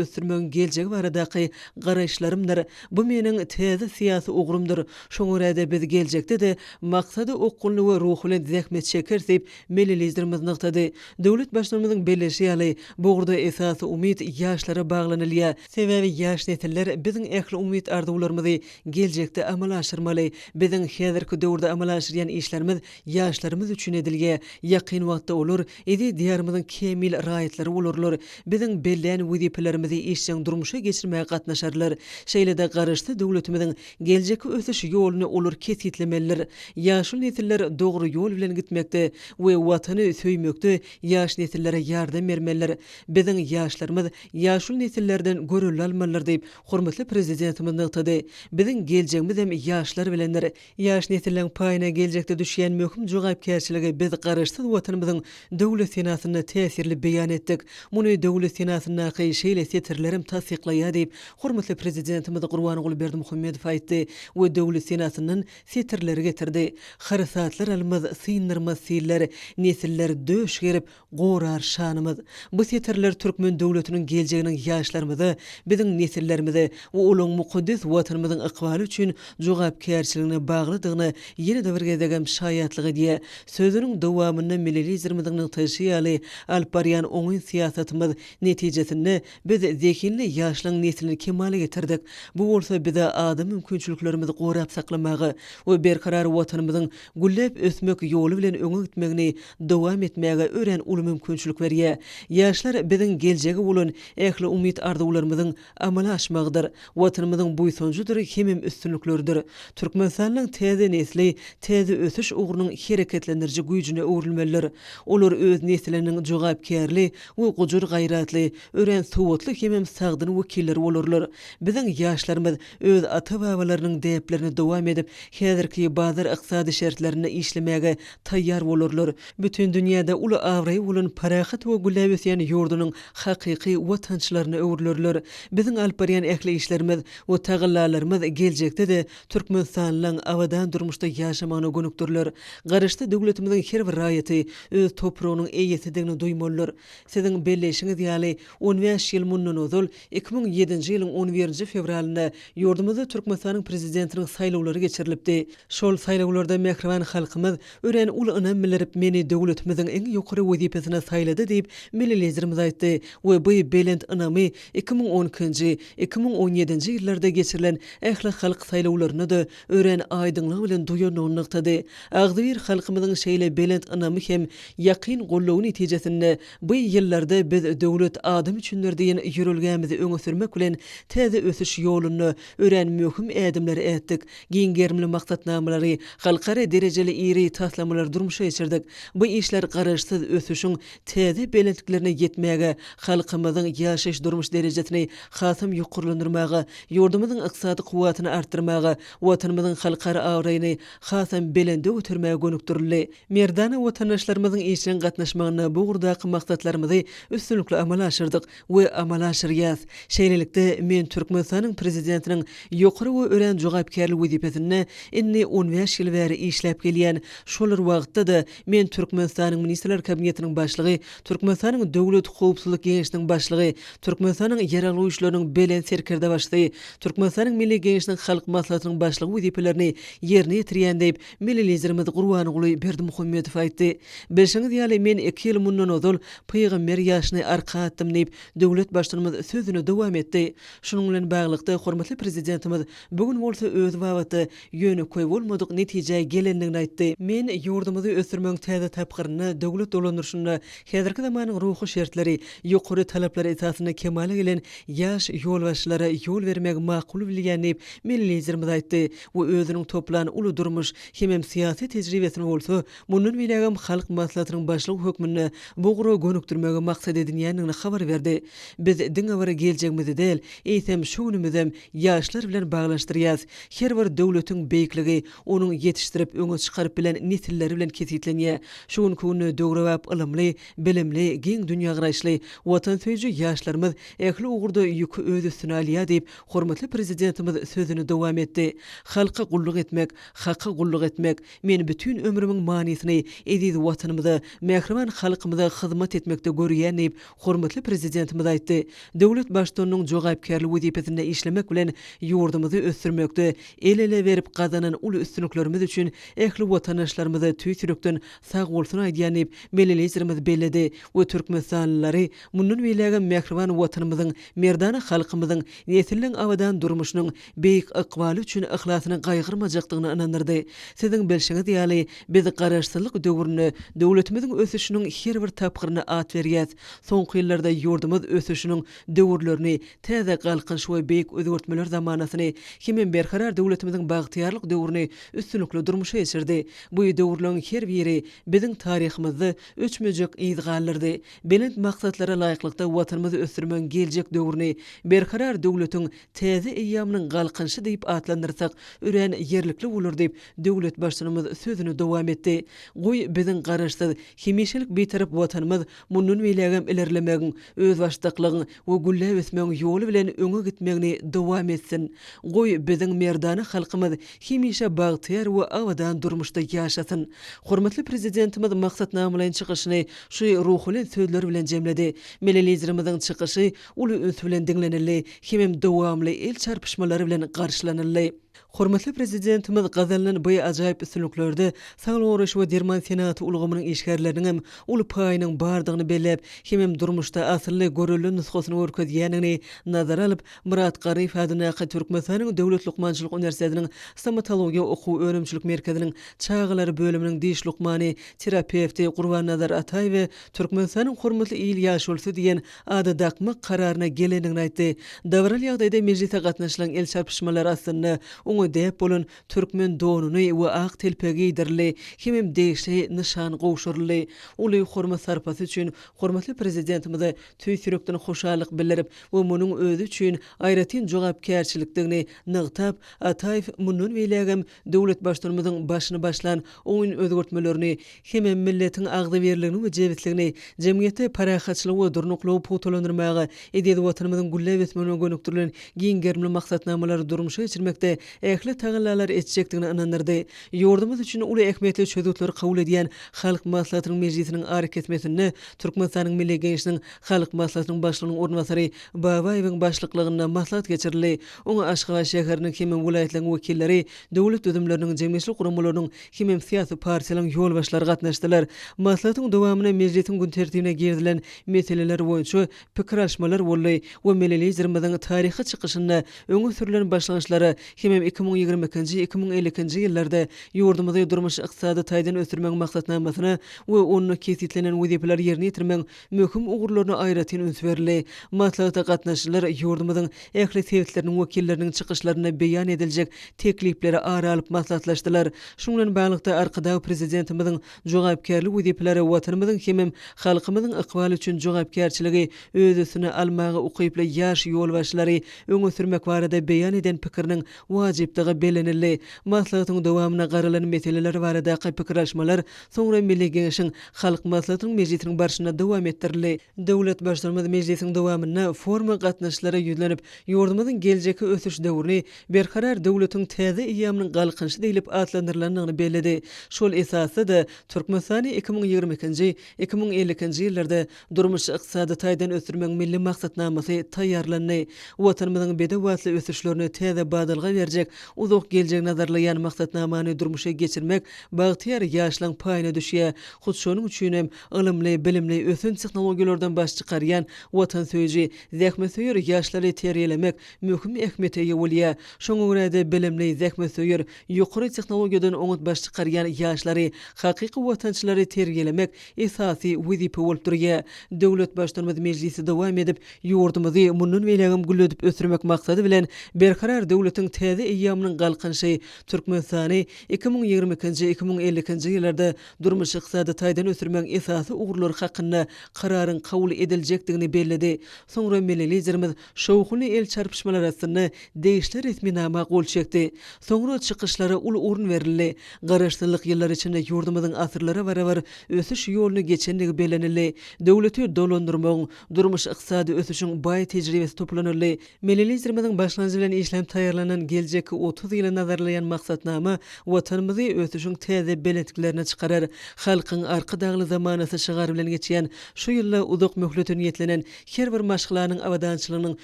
ösdürmegiň geljegi baradaky garaýyşlarymdyr. Bu meniň täze syýasy ugrumdyr. Şoňa görä-de biz geljekde-de maksada okgunly we ruh bilen zähmet çekeris diýip, milli Liderimiz nygtady. Döwlet Baştutanymyzyň belleýşi ýaly, bu ugurda esasy umyt ýaşlara baglanylýar. Sebäbi ýaş nesiller biziň ähli umyt-arzuwlarymyzy geljekde amala aşyrmaly. Biziň häzirki döwürde amala aşyrýan işlerimiz Ýaşlarymyz üçin edilge, ýakyn wagtda olar eziz Diýarymyzyň kämil raýatlary bolarlar, biziň bellän wezipelerimizi işjeň durmuşa geçirmäge gatnaşarlar. Şeýle-de Garaşsyz döwletimiziň geljekki ösüş ýoluny olar kesgitlemelidir. Ýaşuly nesiller dogry ýol bilen gitmekde we Watany söýmekde ýaş nesillere ýardam bermelidir. Biziň ýaşlarymyz ýaşuly nesillerden görelde almalydyr diýip, hormatly Prezidentimiz nygtady. Biziň geljegimizem ýaşlar bilendir. Ýaş nesilleriň paýyna geljekde düşýän möhüm jogapkärçiligi biz Garaşsyz Watanymyzyň Döwlet senasynda täsirli beýan etdik. Muny Döwlet senasyndaky şeýle setirlerem tassyklaýar diýip, hormatly Prezidentimiz Gurbanguly Berdimuhamedow aýtdy we Döwlet senasyndan setirleri getirdi, Harsatlar almaz, synlarmaz siller, Nesiller döş gerip, Gorar şanymyz! Bu setirler türkmen döwletiniň geljeginiň ýaşlarymyza, biziň nesillerimize we olaň mukaddes Watanymyzyň ykbaly üçin jogapkärçiligine baglydygyna ýene-de bir gezegem şaýatlyk edýär. Sözüniň dowamynda milli Liderimiziň nygtaýşy ýaly, alyp barýan oňyn syýasatymyz netijesinde biz zehinli ýaşlaň neslini kemala getirdik. Bu bolsa bize ada mümkinçiliklerimizi gorap saklamaga we berkarar Watanymyzyň gülläp ösmek ýoly bilen öňe gitmegini dowam etmäge örän uly mümkinçilik berýär. Ýaşlar biziň geljege bolan ähli umyt-arzuwlarymyzyň amala aşmagydyr, Watanymyzyň buýsanjydyr hemem üstünlikleridir. Türkmenistanyň täze nesli täze ösüş ugrunyň hereketlendiriji güýjüne öwrülmelidir. Olar öz nesiliniň jogapkärli we gujur-gaýratly, örän sowatly hemem sagdyn wekilleri bolarlar. Biziň ýaşlarymyz öz ata-babalarynyň däplerini dowam edip, häzirki bazar ykdysady şertlerinde işlemäge taýýar bolarlar. Bütin dünýäde uly abraýy bolan parahat we gülläp ösýän ýurdunyň hakyky watançylaryna öwrülerler. Biziň alyp barýan ähli işlerimiz we tagallalarymyz geljekde-de türkmenistanlylaň abadan durmuşda ýaşamagyna gönükdiriler. Garaşsyz döwletimiziň her bir raýaty öz topragynyň eýesidigini duýmalydyr. Siziň belleýşiňiz ýaly, on bäş ýyl mundan ozal, Iki müň ýedinji ýylyň on birinji fewralynda ýurdumyzda Türkmenistanyň Prezidentiniň saýlawlary geçirilipdi. Şol saýlawlarda mähriban halkymyz örän uly ynam bildirip, meni döwletimiziň iň ýokary wezipesine saýlady diýip, milli Liderimiz aýtdy we bu belent ynamy iki müň on ikinji, iki müň on ýedinji ýyllarda geçirilen ählihalk saýlawlarynda-da örän aýdyňlygy bilen duýandygyny nygtady. Agzybir halkymyzyň şeýle belent ynamy hem ýakyn goldawy netijesinde Bu ýyllarda biz Döwlet adam üçindir diýen ýörelgämizi öňe sürmek bilen, täze ösüş ýolunda örän möhüm ädimleri ätdik, giň gerimli maksatnamalary, halkara derejeli iri taslamalary durmuşa geçirdik. Bu işler Garaşsyz ösüşiň täze belentliklerine ýetmäge, halkymyzyň ýaşaýyş-durmuş derejesini hasam ýokarlandyrmaga, ýurdumyzyň ykdysady kuwwatyny artdyrmaga, Watanymyzyň halkara abraýyny hasam belende götermäge gönükdirildi. Merdana watandaşlarymyzyň işjeň gatnaşmagynda bu ugurdaky maksatlarymyzy üstünlikli amala aşyrdyk we amala aşyrýas. Şeýlelikde, men Türkmenistanyň Prezidentiniň ýokary we örän jogapkärli wezipesinde indi on bäş ýyl bäri işläp gelýän, şolar wagtda-da Men Türkmenistanyň Ministrler Kabinetiniň Başlygy, Türkmenistanyň Döwlet howpsuzlyk geňeşiniň Başlygy, Türkmenistanyň Ýaragly Güýçleriniň Belent Serkerdebaşysy, Türkmenistanyň Milli Geňeşiniň Halk Maslahatynyň Başlygy wezipelerini ýerine ýetirýän diýip, milli Liderimiz Gurbanguly Berdimuhamedow aýtdy. Bilşiňiz ýaly, men iki ýyl mundan ozal pygamber ýaşyny arka atdym diýip, döwlet Baştutanymyz sözüni dowam etdi. Şunuň bilen baglylykda, hormatly Prezidentimiz bu gün bolsa özi babatda ýönekeý bolmadyk netijä gelendigini aýtdy. Men ýurdumyzy ösdürmegiň täze tapgyrynda, döwlet dolandyryşynda häzirki zamanyň ruhy şertleri, ýokary talaplary esasynda kemala gelen ýaş ýolbaşçylara ýol bermegi makul bilýän diýip, milli Liderimiz aýtdy we özüniň toplan uly durmuş hemem syýasy tejribesini bolsa mundan beýlägem Halk Maslahatynyň Başlygy hökmünde bu ugra gönükdirmegi maksat edinýändigini habar berdi. Biz diňe bir geljegimizi däl, eýsem, şu günümizem Ýaşlar bilen baglanyşdyrýas. Her bir döwletiň beýikligi onuň ýetişdirip öňe çykaryp bilen nesilleri bilen kesgitlenýä. Şu günki günde döwrebap ylymly, bilimli, giň dünýägaraýyşly, watansöýüji ýaşlarymyz ähli ugurda ýüki öz üstüne alýa diýip, hormatly Prezidentimiz sözüni dowam etdi. Halka gulluk etmek, Haka gulluk etmek. Men bütin ömrümiň manysyny eziz Watanymyza, mähriban halkymyza hyzmat etmekde görýän diýip, Hormatly Prezidentimiz aýtdy, Döwlet Baştutanynyň jogapkärli wezipesinde işlemek bilen ýurdumyzy ösdürmekde el-ele berip gazanan uly üstünliklerimiz üçin ähli watandaşlarymyza tüýs ýürekden sagbolsun aýdýan diýip, milli Liderimiz belledi we türkmenistanlylary mundan beýlägem mähriban Watanymyzyň, merdana halkymyzyň nesilleň abadan durmuşynyň beýik ykbaly üçin yhlasyny gaýgyrmajakdygyna ynandyrdy. Siziň bilşiňiz ýaly, biz Garaşsyzlyk döwründe döwletimiziň ösüşiniň her bir tapgyryna at berýäs. Soňky ýyllarda ýurdumyz ösüşiniň döwürlerini, täze Galkynyş we beýik özgertmeler zamanasyny hemem Berkarar döwletimiziň bagtyýarlyk döwrüni üstünlikli durmuşa geçirdi. Bu döwürleriň her biri biziň taryhymyzda öçmejek yz galdyrdy. Belent maksatlara laýyklykda Watanymyzy ösdürmegiň geljek döwrüni Berkarar döwletiň Täze eýýamynyň Galkynyşy diýip atlandyrsak, örän ýerlikli bolar diýip, döwlet Baştutanymyz sözüni dowam etdi. Goý, biziň Garaşsyz, hemişelik Bitarap Watanymyz mundan beýlägem ilerlemegiň, özbaşdaklygyň we gülläp ösmegiň ýoly bilen öňe gitmegini dowam etsin! Goý, biziň merdana halkymyz hemişe bagtyýar we abadan durmuşda ýaşasyn! Hormatly Prezidentimiz maksatnamalaýyn çykyşyny şu ruh bilen sözler bilen jemledi. Milli Liderimiziň çykyşy uly üns bilen diňlenildi hemem dowamly el çarpyşmalar bilen garşylanyldy. Hormatly Prezidentimiz gazanylan bu ajaýyp üstünliklerde saglygy goraýyş we derman senagaty ulgamynyň işgärleriniň hem uly paýynyň bardygyny belläp, hemem durmuşda asylly, görelde nusgasyny görkezýändigini nazara alyp, Myrat Garryýew adyndaky Türkmenistanyň Döwlet lukmançylyk uniwersitetiniň Stomatologiýa okuw-önümçilik merkeziniň çagalar bölüminiň diş lukmany, terapewti Gurbannazar Ataýewe Türkmenistanyň hormatly il ýaşulusy diýen ada dakmak kararyna gelendigini aýtdy. Dabaraly ýagdaýda mejlise gatnaşylan el çarpyşmalar aslynda oňa däp bolan türkmen donuny we ak telpegi geýdirildi hemem degişli nyşan gowşuryldy. Uly hormat-sarpasy üçin hormatly Prezidentimize tüýs ýürekden hoşallyk bildirip we munuň özi üçin aýratyn jogapkärçilikdigini nygtap, Ataýew mundan beýlägem Döwlet Baştutanymyzyň başyny başlan oňyn özgertmelerini hem milletiň agzybirligini we jebisligini, jemgyýetde parahatçylygy we durnuklygy pugtalandyrmaga, eziz Watanymyzyň gülläp ösmegine gönükdirilen giň gerimli maksatnamalary durmuşa geçirmekde ähli tagallalary etjekdigine ynandyrdy. Ýurdumyz üçin uly ähmiýetli çözgütleri kabul edýän Halk Maslahatynyň mejlisiniň arykesmesinde Türkmenistanyň Milli Geňeşiniň Halk Maslahatynyň Başlygynyň orunbasary Babaýewiň başlyklygynda maslahat geçirildi. Oňa Aşgabat şäheriniň hemem welaýatlaryň wekilleri, döwlet düzümleriniň, jemgyýetçilik guramalarynyň hemem syýasy partiýalaryň ýolbaşçylary gatnaşdylar. Maslahatyň dowamynda mejlisiň gün tertibine girizilen meseleler boýunça pikir alyşmalar boldy we Milli Liderimiziň taryhy çykyşynda öňe sürlen başlangyçlara hemem iki müň ýigrimi ikinji, iki müň elli ikinji ýyllarda ýurdumyzy durmuş-ykdysady taýdan ösdürmegiň maksatnamasyna we onda kesgitlenen wezipeleri ýerine ýetirmegiň möhüm ugurlaryna aýratyn üns berildi. Maslahata gatnaşyjylar ýurdumyzyň ähli sebitleriniň wekilleriniň çykyşlarynda beýan ediljek teklipleri ara alyp maslahatlaşdylar. Şunuň bilen baglylykda, Arkadag Prezidentimiziň jogapkärli wezipelere Watanymyzyň hemem halkymyzyň ykbaly üçin jogapkärçiligi öz üstüne almaga ukyply ýaş ýolbaşçylary öňe sürmek barada beýan eden pikiriniň wajypdygy bellenildi. Maslahatyň dowamyna garalan meseleler baradaky pikir alyşmalar soňra Milli Geňeşiň Halk Maslahatynyň mejlisiniň barşynda dowam etdirildi. Döwlet Baştutanymyz mejlisiň dowamynda foruma gatnaşyjylara ýüzlenip, ýurdumyzyň geljekki ösüş döwrüni Berkarar döwletiň täze eýýamynyň galkynyşy diýlip atlandyrylandygyny belledi. Şol esasda-da, Türkmenistany iki müň ýigrimi ikinji, iki müň elli ikinji ýyllarda Durmuş-ykdysady taýdan ösdürmegiň milli maksatnamasy taýýarlandy. Watanymyzyň bedewbatly ösüşlerine täze badalga berjek uzak geljegi nazarlaýan maksatnamany durmuşa geçirmek bagtyýar ýaşlaryň paýyna düşýär. Hut şonuň üçin hem ylymly, bilimli, ösen tehnologiýalardan baş çykarýan watansöýüji, zähmetsöýer ýaşlary terbiýelemek möhüm ähmiýete eýe bolýar. Şoňa görä-de, bilimli, zähmetsöýer, ýokary tehnologiýadan oňat baş çykarýan ýaşlary, hakyky watançylary terbiýelemek esasy wezipe bolup durýar. Döwlet Baştutanymyz mejlisi dowam edip, ýurdumyzy mundan beýlägem gülledip ösdürmek maksady bilen, Berkarar döwletiň täze eýýamynyň Galkynyşy Türkmenistany iki müň ýigrimi ikinji, iki müň elli ikinji ýyllarda durmuş-ykdysady taýdan ösdürmegiň esasy ugurlary hakynda Kararyň kabul ediljekdigini belledi. Soňra milli Liderimiz Şowhunly el çarpyşmalar astynda degişli resminama gol çekdi. Soňra çykyşlara uly orun berildi. Garaşsyzlyk ýyllary içinde ýurdumyzyň asyrlara barabar ösüş ýoluny geçendigi bellenildi. Döwleti dolandyrmagyň, durmuş-ykdysady ösüşiň baý tejribesi toplanyldy. Milli Liderimiziň başlangyjy bilen işlenip taýýarlanan geljekki otuz ýyla nazarlaýan maksatnama Watanymyzy ösüşiň täze belentliklerine çykarar. Halkyň Arkadagly zamanasy şygary bilen geçýän şu ýylda uzak möhlete niýetlenen her bir maşgalanyň abadançylygynyň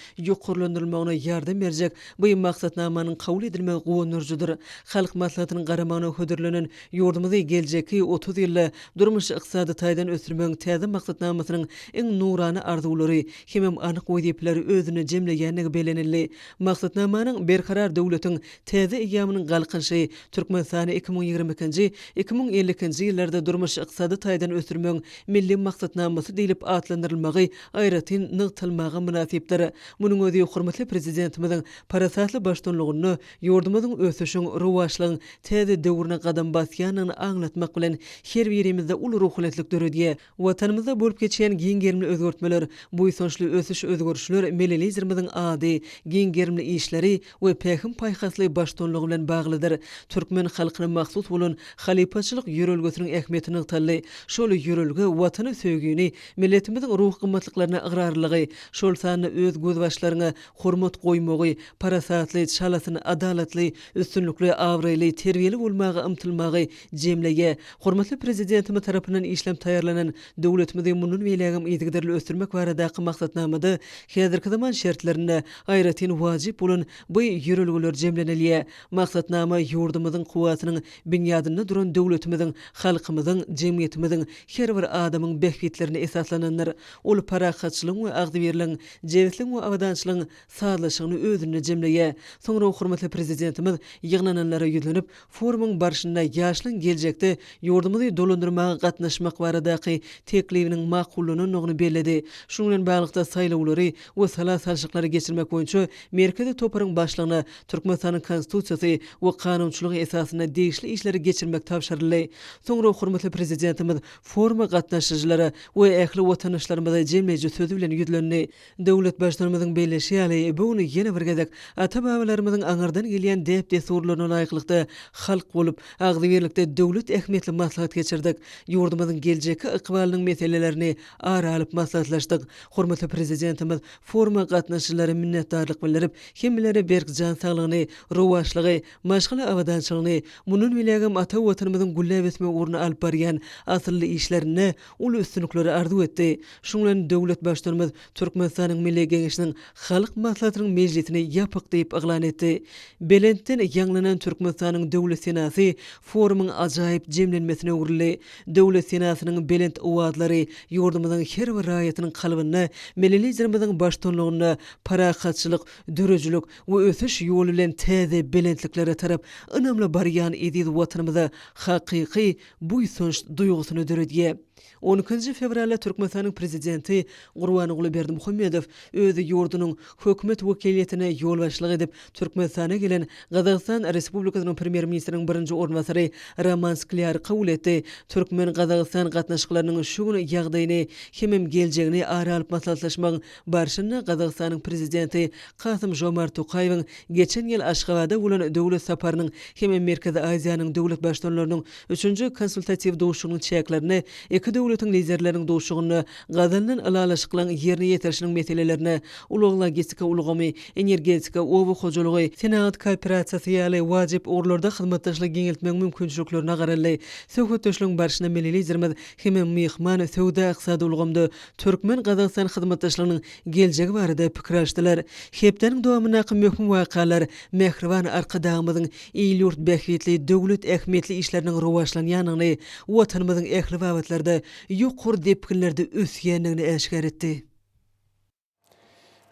ýokarlandyrylmagyna ýardam berjek bu maksatnamanyň kabul edilmegi guwandyryjydyr. Halk Maslahatynyň garamagyna hödürlenen ýurdumyzy geljekki otuz ýylda durmuş-ykdysady taýdan ösdürmegiň täze maksatnamasynyň iň nurana arzuwlary hemem anyk wezipeleri özünde jemleýändigi bellenildi. Maksatnamanyň Berkarar döwletiň Täze eýýamynyň Galkynyşy Türkmenistany iki müň ýigrimi ikinji, iki müň elli ikinji ýyllarda durmuş-ykdysady taýdan ösdürmegiň Milli maksatnamasy diýlip atlandyrylmagy aýratyn nygtalmaga mynasypdyr. Munuň özi hormatly Prezidentimiziň parasatly baştuňlugynda ýurdumyzyň ösüşiň, rowaçlygyň täze döwrüne gadam basýandygyny aňlatmak bilen, her birimizde uly ruhubelentlik döredýär. Watanymyzda bolup geçýän giň gerimli özgertmeler, buýsançly ösüş-özgerişler milli Liderimiziň ady, giň gerimli işleri we pähim-paýhasly baştutanlygy bilen baglydyr. Türkmen halkyna mahsus bolan halypaçylyk ýörelgesiniň ähmiýeti nygtaldy. Şol ýörelge Watana söýgini, milletimiziň ruhy gymmatlyklaryna ygrarlylygy, şol sanda öz gözbaşlaryňa hormat goýmagy, parasatly, çalasyn, adalatly, üstünlikli, abraýly, terbiýeli bolmaga ymtylmagy Jemleýe, hormatly Prezidentimiz tarapyndan işlenip taýýarlanan döwletimizi mundan beýlägem yzygiderli ösdürmek baradaky maksatnamada häzirki zaman şertlerinde aýratyn wajyp bolan bu ýörelgeler jemlenilýär. Maksatnama ýurdumyzyň kuwwatynyň binýadynda duran döwletimiziň halkymyzyň, jemgyýetimiziň, her bir adamyň bähbitlerine esaslanandyr. Ol parahatçylygyň we agzybirligiň, jebisligiň we abadançylygyň sazlaşygyny özünde jemleýär. Soňra hormatly Prezidentimiz ýygnananlara ýüzlenip, Forumyň barşynda ýaşlaryň geljekde ýurdumyzy dolandyrmaga gatnaşmak baradaky teklibiniň makullanandygyny belledi. Şunuň bilen baglylykda, saýlawlary we sala salşyklary geçirmek boýunça Merkezi toparyň başlygyna Türkmenistanyň Konstitusiýasy we kanunçylygy esasynda degişli işleri geçirmek tabşyryldy. Soňra hormatly Prezidentimiz foruma gatnaşyjylara we ähli watandaşlarymyza jemleýji sözi bilen ýüzlendi. Döwlet Baştutanymyzyň belleşi ýaly, bu gün ýene bir gezek ata-babalarymyzyň aňyrdan gelýän däp-dessurlaryna laýyklykda halk bolup, agzybirlikde döwlet ähmiýetli maslahat geçirdik. Ýurdumyzyň geljekki ykbalynyň meselelerini ara alyp maslahatlaşdyk. Hormatly Prezidentimiz foruma gatnaşyjylara minnetdarlyk bildirip, hemmelere berk jan saglygyny, rowaçlygy, maşgala abadançylygyny, mundan beýlägem ata Watanymyzyň gülläp ösmek ugrunda alyp barýan asylly işlerinde uly üstünlikleri arzuw etdi. Şunuň bilen döwlet Baştutanymyz Türkmenistanyň Milli Geňeşiniň Halk Maslahatynyň mejlisini ýapyk diýip yglan etdi. Belentden ýaňlanan Türkmenistanyň Döwlet senasy forumyň ajaýyp jemlenmesine öwrüldi. Döwlet senasynyň belent owazlary ýurdumyzyň her bir raýatynyň kalbynda Milli Liderimiziň baştutanlygynda parahatçylyk, döredijilik we ösüş ýoly bilen täze belentliklere tarap ynamly barýan eziz Watanymyza hakyky buýsanç duýgusyny döredýär. On ikinji fewralda Türkmenistanyň Prezidenti Gurbanguly Berdimuhamedow öz ýurdunyň Hökümet wekiliýetine ýolbaşçylyk edip, Türkmenistana gelen Gazagystan Respublikasynyň Premýer-ministriniň birinji orunbasary Roman Sklýary kabul etdi, türkmen-gazagystan gatnaşyklarynyň şu gün ýagdaýyny hemem geljegini ara alyp maslahatlaşmagyň barşynda Gazagystanyň Prezidenti Kasym-Žomart Tokaýewiň geçen ýyl Aşgabada bolan döwlet saparynyň hem Merkezi Aziýanyň döwlet Baştutanlarynyň üçünji konsultatiw duşuşygynyň çäklerinde iki döwletiň Liderleriniň duşuşygynda gazanylan ylalaşyklaryň ýerine ýetirilişiniň meselelerine, ulag-logistika ulgamy, energetika, oba hojalygy, senagat kooperasiýasy ýaly wajyp ugurlarda hyzmatdaşlygy giňeltmegiň mümkinçiliklerine garaldy. Söhbetdeşligiň barşynda milli Liderimiz hem myhman, söwda-ykdysady ulgamda türkmen-gazagystan hyzmatdaşlygynyň geljegi barada pikir alşdylar. Hepdäniň dowamyndaky möhüm wakalar mähriban Arkadagymyzyň il-ýurt bähbitli, döwlet ähmiýetli işleriniň rowaçlanýandygyny, Watanymyzyň ähli babatlarda ýokary depginlerde ösýändigini äşgär etdi.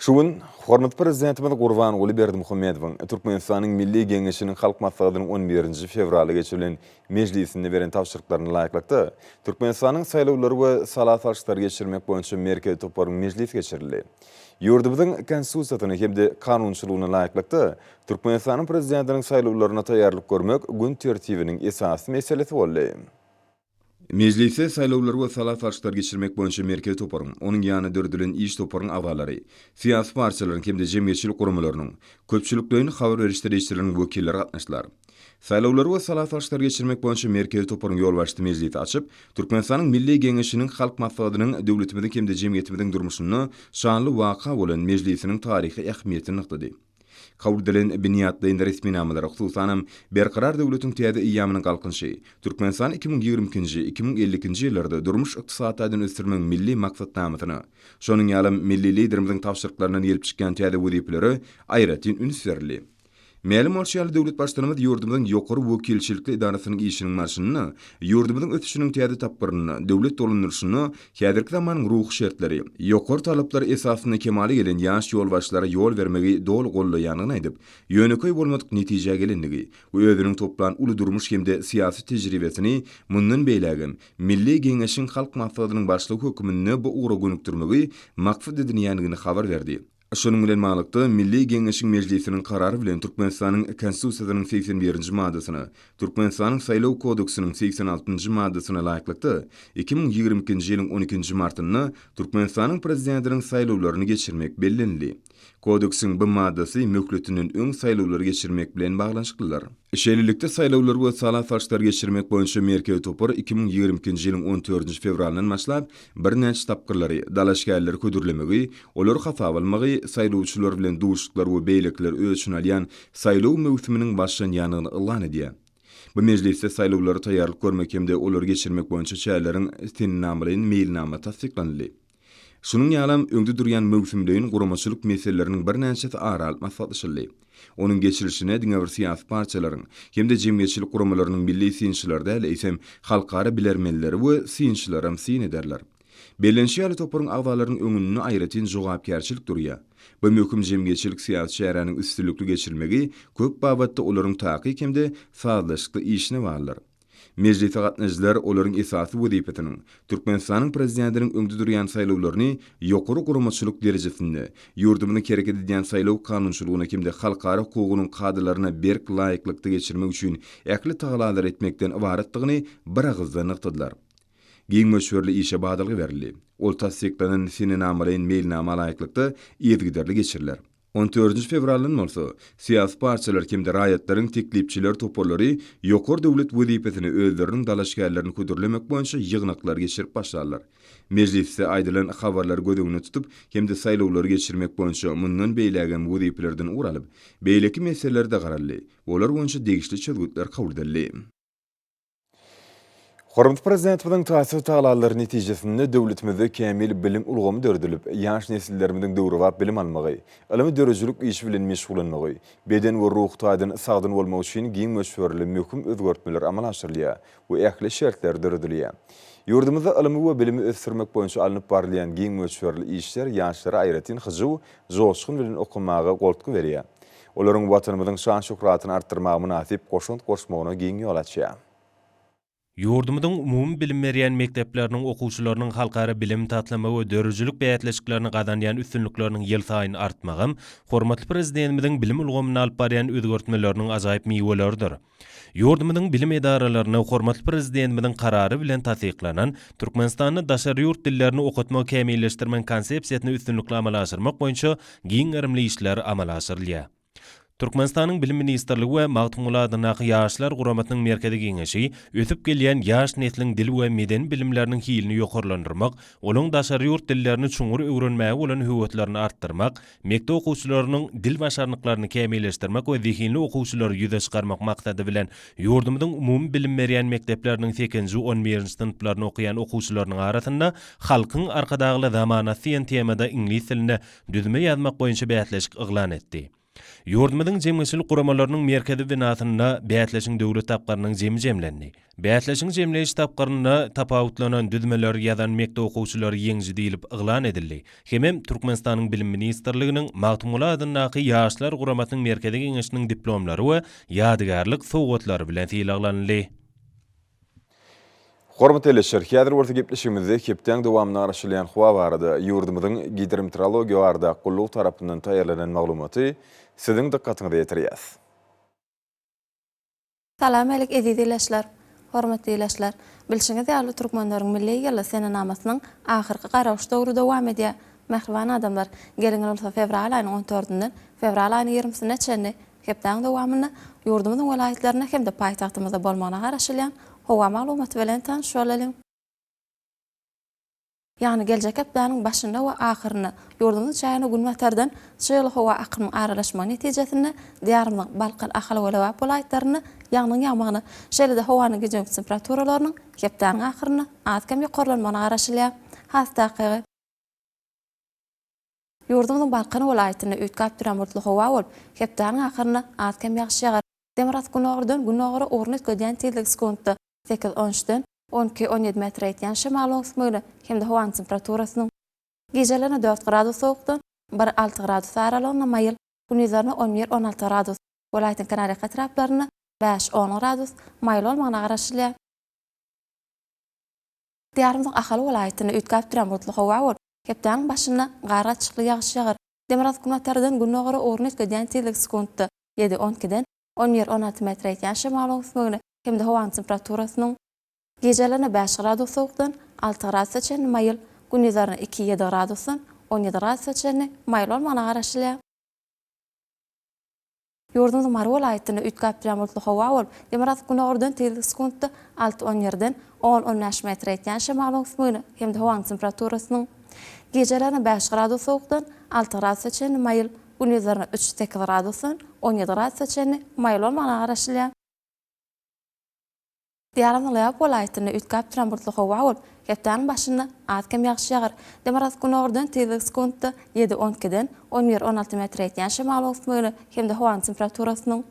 Şu gün hormatly Prezidentimiz Gurbanguly Berdimuhamedowyň Türkmenistanyň Milli Geňeşiniň Halk Maslahatynyň on birinji fewralda geçirilen mejlisinde beren tabşyryklaryna laýyklykda, Türkmenistanyň Saýlawlary we sala salşyklary geçirmek boýunça merkezi toparynyň mejlisi geçirildi. Ýurdumyzyň Konstitusiýasyna hem-de kanunçylygyna laýyklykda, Türkmenistanyň Prezidentiniň saýlawlaryna taýýarlyk görmek gün tertibiniň esasy meselesi boldy. Mejlise Saýlawlary we sala salşyklary geçirmek boýunça merkezi toparyň, onuň ýanyna döredilen iş toparyň agzalary, syýasy partiýalaryň hem-de jemgyýetçilik guramalarynyň, köpçülikleýin habar beriş serişdeleriniň wekilleri gatnaşdylar. Saýlawlary we sala salşyklary geçirmek boýunça merkezi toparyň ýolbaşçysy mejlisi açyp, Türkmenistanyň Milli Geňeşiniň Halk Maslahatynyň döwletimiziň hem-de jemgyýetimiziň durmuşynda şanly waka bolan Mejlisiniň taryhy ähmiýetini nygtady. Kabul edilen binýatlaýyn resminamalar, hususanam, Berkarar döwletiň täze eýýamynyň Galkynyşy, Türkmenistan iki müň ýigrimi ikinji, iki müň elli ikinji ýyllarda durmuş-ykdysady taýdan ösdürmegiň milli maksatnamasyna, şonuň ýalym milli Liderimiziň tabşyryklaryndan gelip çykýan täze wezipelere aýratyn üns berildi. Mälim bolşy ýaly, döwlet Baştutanymyz ýurdumyzyň ýokary wekilçilikli edarasynyň işiniň barşynda ýurdumyzyň ösüşiniň täze tapgyrynda, döwlet dolandyryşynda Häzirki zamanyň ruhy şertleri, ýokary talaplar esasynda kemala gelen ýaş ýolbaşçylara ýol bermegi doly goldaýandygyny aýdyp, ýönekeý bolmadyk netijä gelendigi we özüniň toplan uly durmuş hem-de syýasy tejribesini mundan beýlägem Milli Geňeşiň Halk Maslahatynyň Başlygy hökmünde bu ugra gönükdirmegi maksat edinýändigini habar berdi. Şunuň bilen baglylykda, Milli Geňeşiň Mejlisiniň karary bilen Türkmenistanyň Konstitusiýasynyň segsen birinji maddasyna, Türkmenistanyň Saýlaw kodeksiniň segsen altynjy maddasyna laýyklykda, iki müň ýigrimi ikinji ýylyň on ikinji martynda Türkmenistanyň Prezidentiniň saýlawlaryny geçirmek bellenildi. Kodeksiň bu maddasy möhletinden öň saýlawlary geçirmek bilen baglanyşyklydyr. Şeýlelikde, saýlawlar we sala salşyklary geçirmek boýunça merkezi topar iki müň ýigrimi ikinji ýylyň on dördünji fewralyndan başlap birnäçe tapgyrlary, dalaşgärleri hödürlemegi, olary hasaba almagy, saýlawçylar bilen duşuşyklar we beýlekileri öz içine alýan saýlaw möwsüminiň başlanýandygyny yglan edýär. Bu mejlisde saýlawlara taýýarlyk görmek hem-de olary geçirmek boýunça çäreleriň sennamalaýyn meýilnama tassyklanyldy. Şunuň ýalam, öňde durýan möwsümleýin guramaçylyk meseleleriniň birnäçesi ara alyp maslahatlaşyldy. Onuň geçirilişine diňe bir syýasy partiýalaryň hem-de jemgyýetçilik guramalarynyň milli synçylary däl, eýsem, halkara bilermenleri we synçylaram syn ederler. Bellenişi ýaly, toparyň agzalarynyň öňünde aýratyn jogapkärçilik durýar. Bu möhüm jemgyýetçilik-syýasy çäräniň üstünlikli geçirilmegi köp babatda olaryň takyk hem-de sazlaşykly işine baglydyr. Mejlise gatnaşyjylar olaryň esasy wezipesiniň Türkmenistanyň Prezidentiniň öňde durýan saýlawlaryny ýokary guramaçylyk derejesinde, ýurdumyzyň hereket edýän saýlaw kanunçylygyna hem-de halkara hukugynyň kadalaryna berk laýyklykda geçirmek üçin ähli tagalary etmekden ybaratdygyny biragyzdan nygtadylar. Giň möçberli işe badalga berildi. Ol tassyklanan senenamalaýyn meýilnama laýyklykda yzygiderli geçiriler. On dördünji fewraldan bolsa, syýasy partiýalar hem-de raýatlaryň teklipçiler toparlary ýokary döwlet wezipesine özleriniň dalaşgärlerini hödürlemek boýunça ýygnaklary geçirip başlarlar. Mejlisde aýdylan habarlary göz öňünde tutup hem-de saýlawlary geçirmek boýunça mundan beýlägem wezipelerden ugur alyp, beýleki meselelere-de garaldy, olar boýunça degişli çözgütler kabul edildi. Hormatly Prezidentimiziň taýsyz tagallalary netijesinde döwletimizde kämil bilim ulgamy döredilip, ýaş nesillerimiziň döwrebap bilim almagy, ylmy-döredijilik işi bilen meşgullanmagy, beden we ruhy taýdan sagdyn bolmagy üçin giň möçberli möhüm özgertmeler amala aşyrylýar we ähli şertler döredilýär. Ýurdumyzda ylmy we bilimi ösdürmek boýunça alnyp barylýan giň möçberli işler ýaşlara aýratyn hyjuw, joşgun bilen okamaga goltgy berýär. Olaryň Watanymyzyň şan-şöhratyny artdyrmaga mynasyp goşant goşmagyna giň ýol açýar. Ýurdumyzyň umumy bilim berýän mekdepleriniň okuwçylarynyň halkara bilim, taslama we döredijilik bäsleşiklerinde gazanýan üstünlikleriniň ýylsaýyn artmagam hormatly Prezidentimiziň bilim ulgamynda alyp barýan özgertmeleriniň ajaýyp miweleridir. Ýurdumyzyň bilim edaralaryna hormatly Prezidentimiziň Karary bilen tassyklanan Türkmenistanda daşary ýurt dillerini okatmagy kämilleşdirmegiň Konsepsiýasyny üstünlikli amala aşyrmak boýunça giň gerimli işler amala aşyrylýar. Türkmenistanyň Bilim ministrligi we Magtymguly adyndaky Ýaşlar guramasynyň Merkezi Geňeşi ösüp gelýän ýaş nesliň dil we medeni bilimleriniň hilini ýokarlandyrmak, olaryň daşary ýurt dillerini çuňňur öwrenmäge bolan höweslerini artdyrmak, Mekdep okuwçylarynyň dil başarnyklaryny kämilleşdirmek we zehinli okuwçylary ýüze çykarmak maksady bilen, ýurdumyzyň umumy bilim berýän mekdepleriniň sekizinji, on birinji synplarynda okaýan okuwçylarynyň arasynda Halkyň Arkadagly zamanasy diýen temada iňlis dilinde düzme ýazmak boýunça bäsleşik yglan etdi. Ýurdumyzyň jemgyýetçilik guramalarynyň merkezi binasynda bäsleşigiň döwlet tapgyrynyň jemi jemlendi. Bäsleşigiň jemleýiş tapgyrynda tapawutlanan düzmeleri ýazan mekdep okuwçylary ýeňiji diýlip yglan edildi hemem Türkmenistanyň Bilim ministrliginiň Magtymguly adyndaky Ýaşlar guramasynyň Merkezi Geňeşiniň diplomlary we ýadygärlik sowgatlary bilen sylaglanyldy. Hormatly Leşger, häzir bolsa gepleşigimizde hepdäň dowamynda garaşylýan howa barada, ýurdumyzyň Gidrometeorologiýa barada gullugy tarapyndan taýýarlanan maglumaty Siziň dykgatyňyza ýetirýäs. Salam älik eziz ilaçlar! Hormatly ilaçlar! Bilşiňiz ýaly Türkmenleriň milli ýyly senenamasynyň ahyrky garawyş döwri dowam edýär. Mähriban adamlar! Geliň bolsa fewral aýynyň on tördünden fewral aýynyň ýigrimisine çenli hepdäň dowamynda ýurdumyzyň welaýatlarynda hem-de paýtagtymyzda bolmagyna garaşylýan howa maglumaty bilen tanyş bolalyň. Ýagny geljek hepdäniň başynda we ahyrynda ýurdumyz jaýyna günbatardan çygly howa akymyň aralaşmagy netijesinde Diýarymyzyň Balkan, Ahal we Lebap welaýatlarynda ýagnyň ýagmagyna, şeýle-de howanyň gije-gündiz temperaturalarynyň hepdäniň ahyrynda az-kem ýokarlanmagyna garaşylýar. Has takygy. Ýurdumyzyň Balkan welaýatynda üýtgäp ýagmurtly howa bolup, hepdäniň ahyrynda az-kem ýagyş ýagar. Demirgasgynogurdan günogra ugruny üýtgedýän tizligi sekuntda sekiz-on üç den on iki, on ýedi metre ýetýän şemalyň öwüsmegine hem-de howanyň temperaturasynyň, gijelerine dört gradus sowukdan bir, alty gradus aralygynda maýyl, gündizlerine on bir, on alty gradus, welaýatyň kenarýaka etraplarynda bäş, on gradus maýyl bolmagyna garaşylýar. Diýarymyzyň Ahal welaýatynda üýtgäp duran bulutly howa bolup, hepdäniň başynda gargaçykly ýagyş ýagar. Demirgazyk günbatardan günnogara ugruny üýtgedýän tizligi sekuntda ýedi, on ikiden on bir, on alty metre ýetýän şemalyň üsmegine hem-de howanyň temperaturasynyň, gijelerine bäş gradus sowukdan alty gradusa çenli maýyl, gündizlerine iki, ýedi gradusdan on ýedi gradusa çenli maýyl bolmagyna garaşylýar. Ýurdumyzyň Mary welaýatynda üýtgäp durýan bulutly howa bolup, demirgazyk günordan tizligi sekuntda alty-on ýerden on-on bäş metr ýetýän şemalyň öwüsmegine hem-de howanyň temperaturasynyň gijelerine bäş gradus sowukdan alty gradusa çenli maýyl, gündizlerine üç-sekiz gradusdan on ýedi gradusa çenli maýyl bolmagyna garaşylýar. Diýarym Nalýaýk welaýatynda üýtgäp duran bulutly howa bolup, hepdäniň başynda az-kem ýagyş ýagar. Demirgazyk günordan tizligi sekuntda ýedi-on ikiden on bir-on alty metre ýetýän şemalyň öwüsmegine hem-de howanyň temperaturasynyň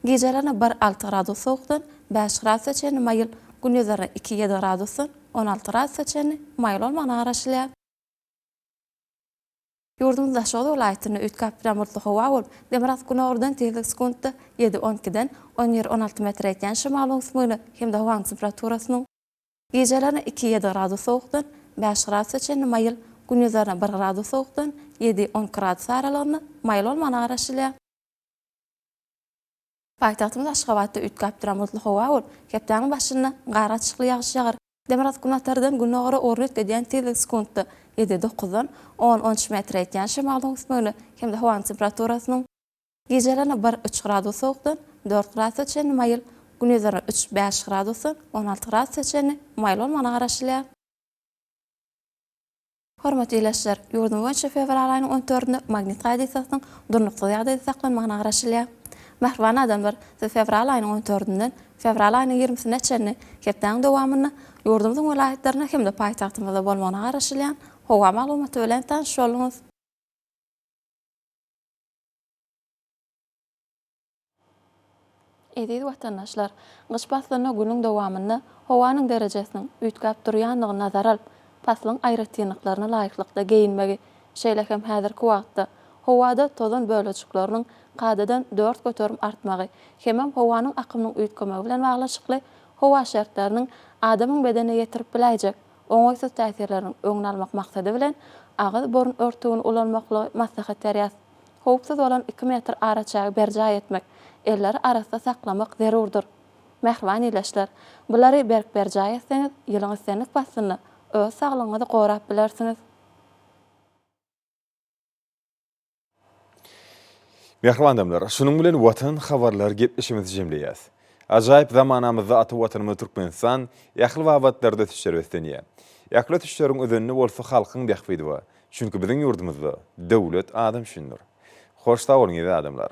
gijelerine bir-alty gradus sowukdan bäş gradusa çenli maýyl, gündizlerine iki-ýedi gradusdan on alty gradusa çenli maýyl bolmagyna garaşylýar. Ýurdumyzyň Daşoguz welaýatynda üýtgäp duran bulutly howa bolup, demirgazyk günordan tizligi sekuntda ýedi, on ikiden on bir, on alty metre ýetýän şemal oňup möne hem-de howanyň temperaturasynyň, gijelerine iki, ýedi gradus sowukdan bäş gradusa çenli maýyl, gündizlerine bir gradus sowukdan ýedi, on iki gradus aralygynda maýyl bolmagyna garaşylýar. Paýtagtymyz Aşgabatda üýtgäp duran bulutly howa bolup, hepdäniň başynda gara açykly ýagyş ýagar. Demirgazyk günbatardan gündogara orun üýtgedýän tizlik sekuntda ýedi, dokuzdan on, on üç metr ýetýän şemalyň üsmegine hem-de howanyň temperaturasynyň, gijelerine bir, üç gradus sowukdan dört gradusa çenli maýyl, gündizlerine üç, bäş gradusdan on alty gradusa çenli maýyl bolmagyna garaşylýar. Hormatly ildeşler! Ýurdumyz boýunça fewral aýynyň on dördünde magnit hadysasynyň durnuksyz ýagdaýda saklanmagyna garaşylýar. Mähriban adamlar, siz fewral aýynyň on dördünden fewral aýynyň ýigrimisine çenli hepdäniň dowamynda ýurdumyzyň welaýatlarynda hem-de paýtagtymyzda bolmagyna garaşylýan howa maglumaty bilen tanyş bolduňyz. Eziz watandaşlar! Gyş paslynda günüň dowamynda howanyň derejesiniň üýtgäp durýandygyny nazara alyp, paslyň aýratynlyklaryna laýyklykda geýinmegi, şeýle hem häzirki wagtda howada tozan bölejikleriniň kadadan dört göterim artmagy hemem howanyň akymynyň üýtgemegi bilen baglanşykly howa şertleriniň adamyň bedenine ýetirip biläýjek oňaýsyz täsirleriniň öňüni almak maksady bilen agyz-burun örtügini ulanmaklygy maslahat berýäs. Howpsuz bolan iki metr araçägi berjaý etmek, elleri arassa saklamak zerurdyr. Mähriban ildeşler, bulary berk berjaý etseňiz, ýylyň islendik paslynda öz saglygyňyzy gorap bilersiňiz. Mähriban adamlar, şunuň bilen Watan habarlar gepleşigimizi jemleýäs. Ajaýyp zamanamyzda ata Watanymyz Türkmenistan ähli babatlarda ösüşleri beslenýär. Ähli ösüşleriň özeninde bolsa halkyň bähbidi bar. Çünki biziň ýurdumyzda döwlet adam üçindir. Hoş sag boluň eziz adamlar.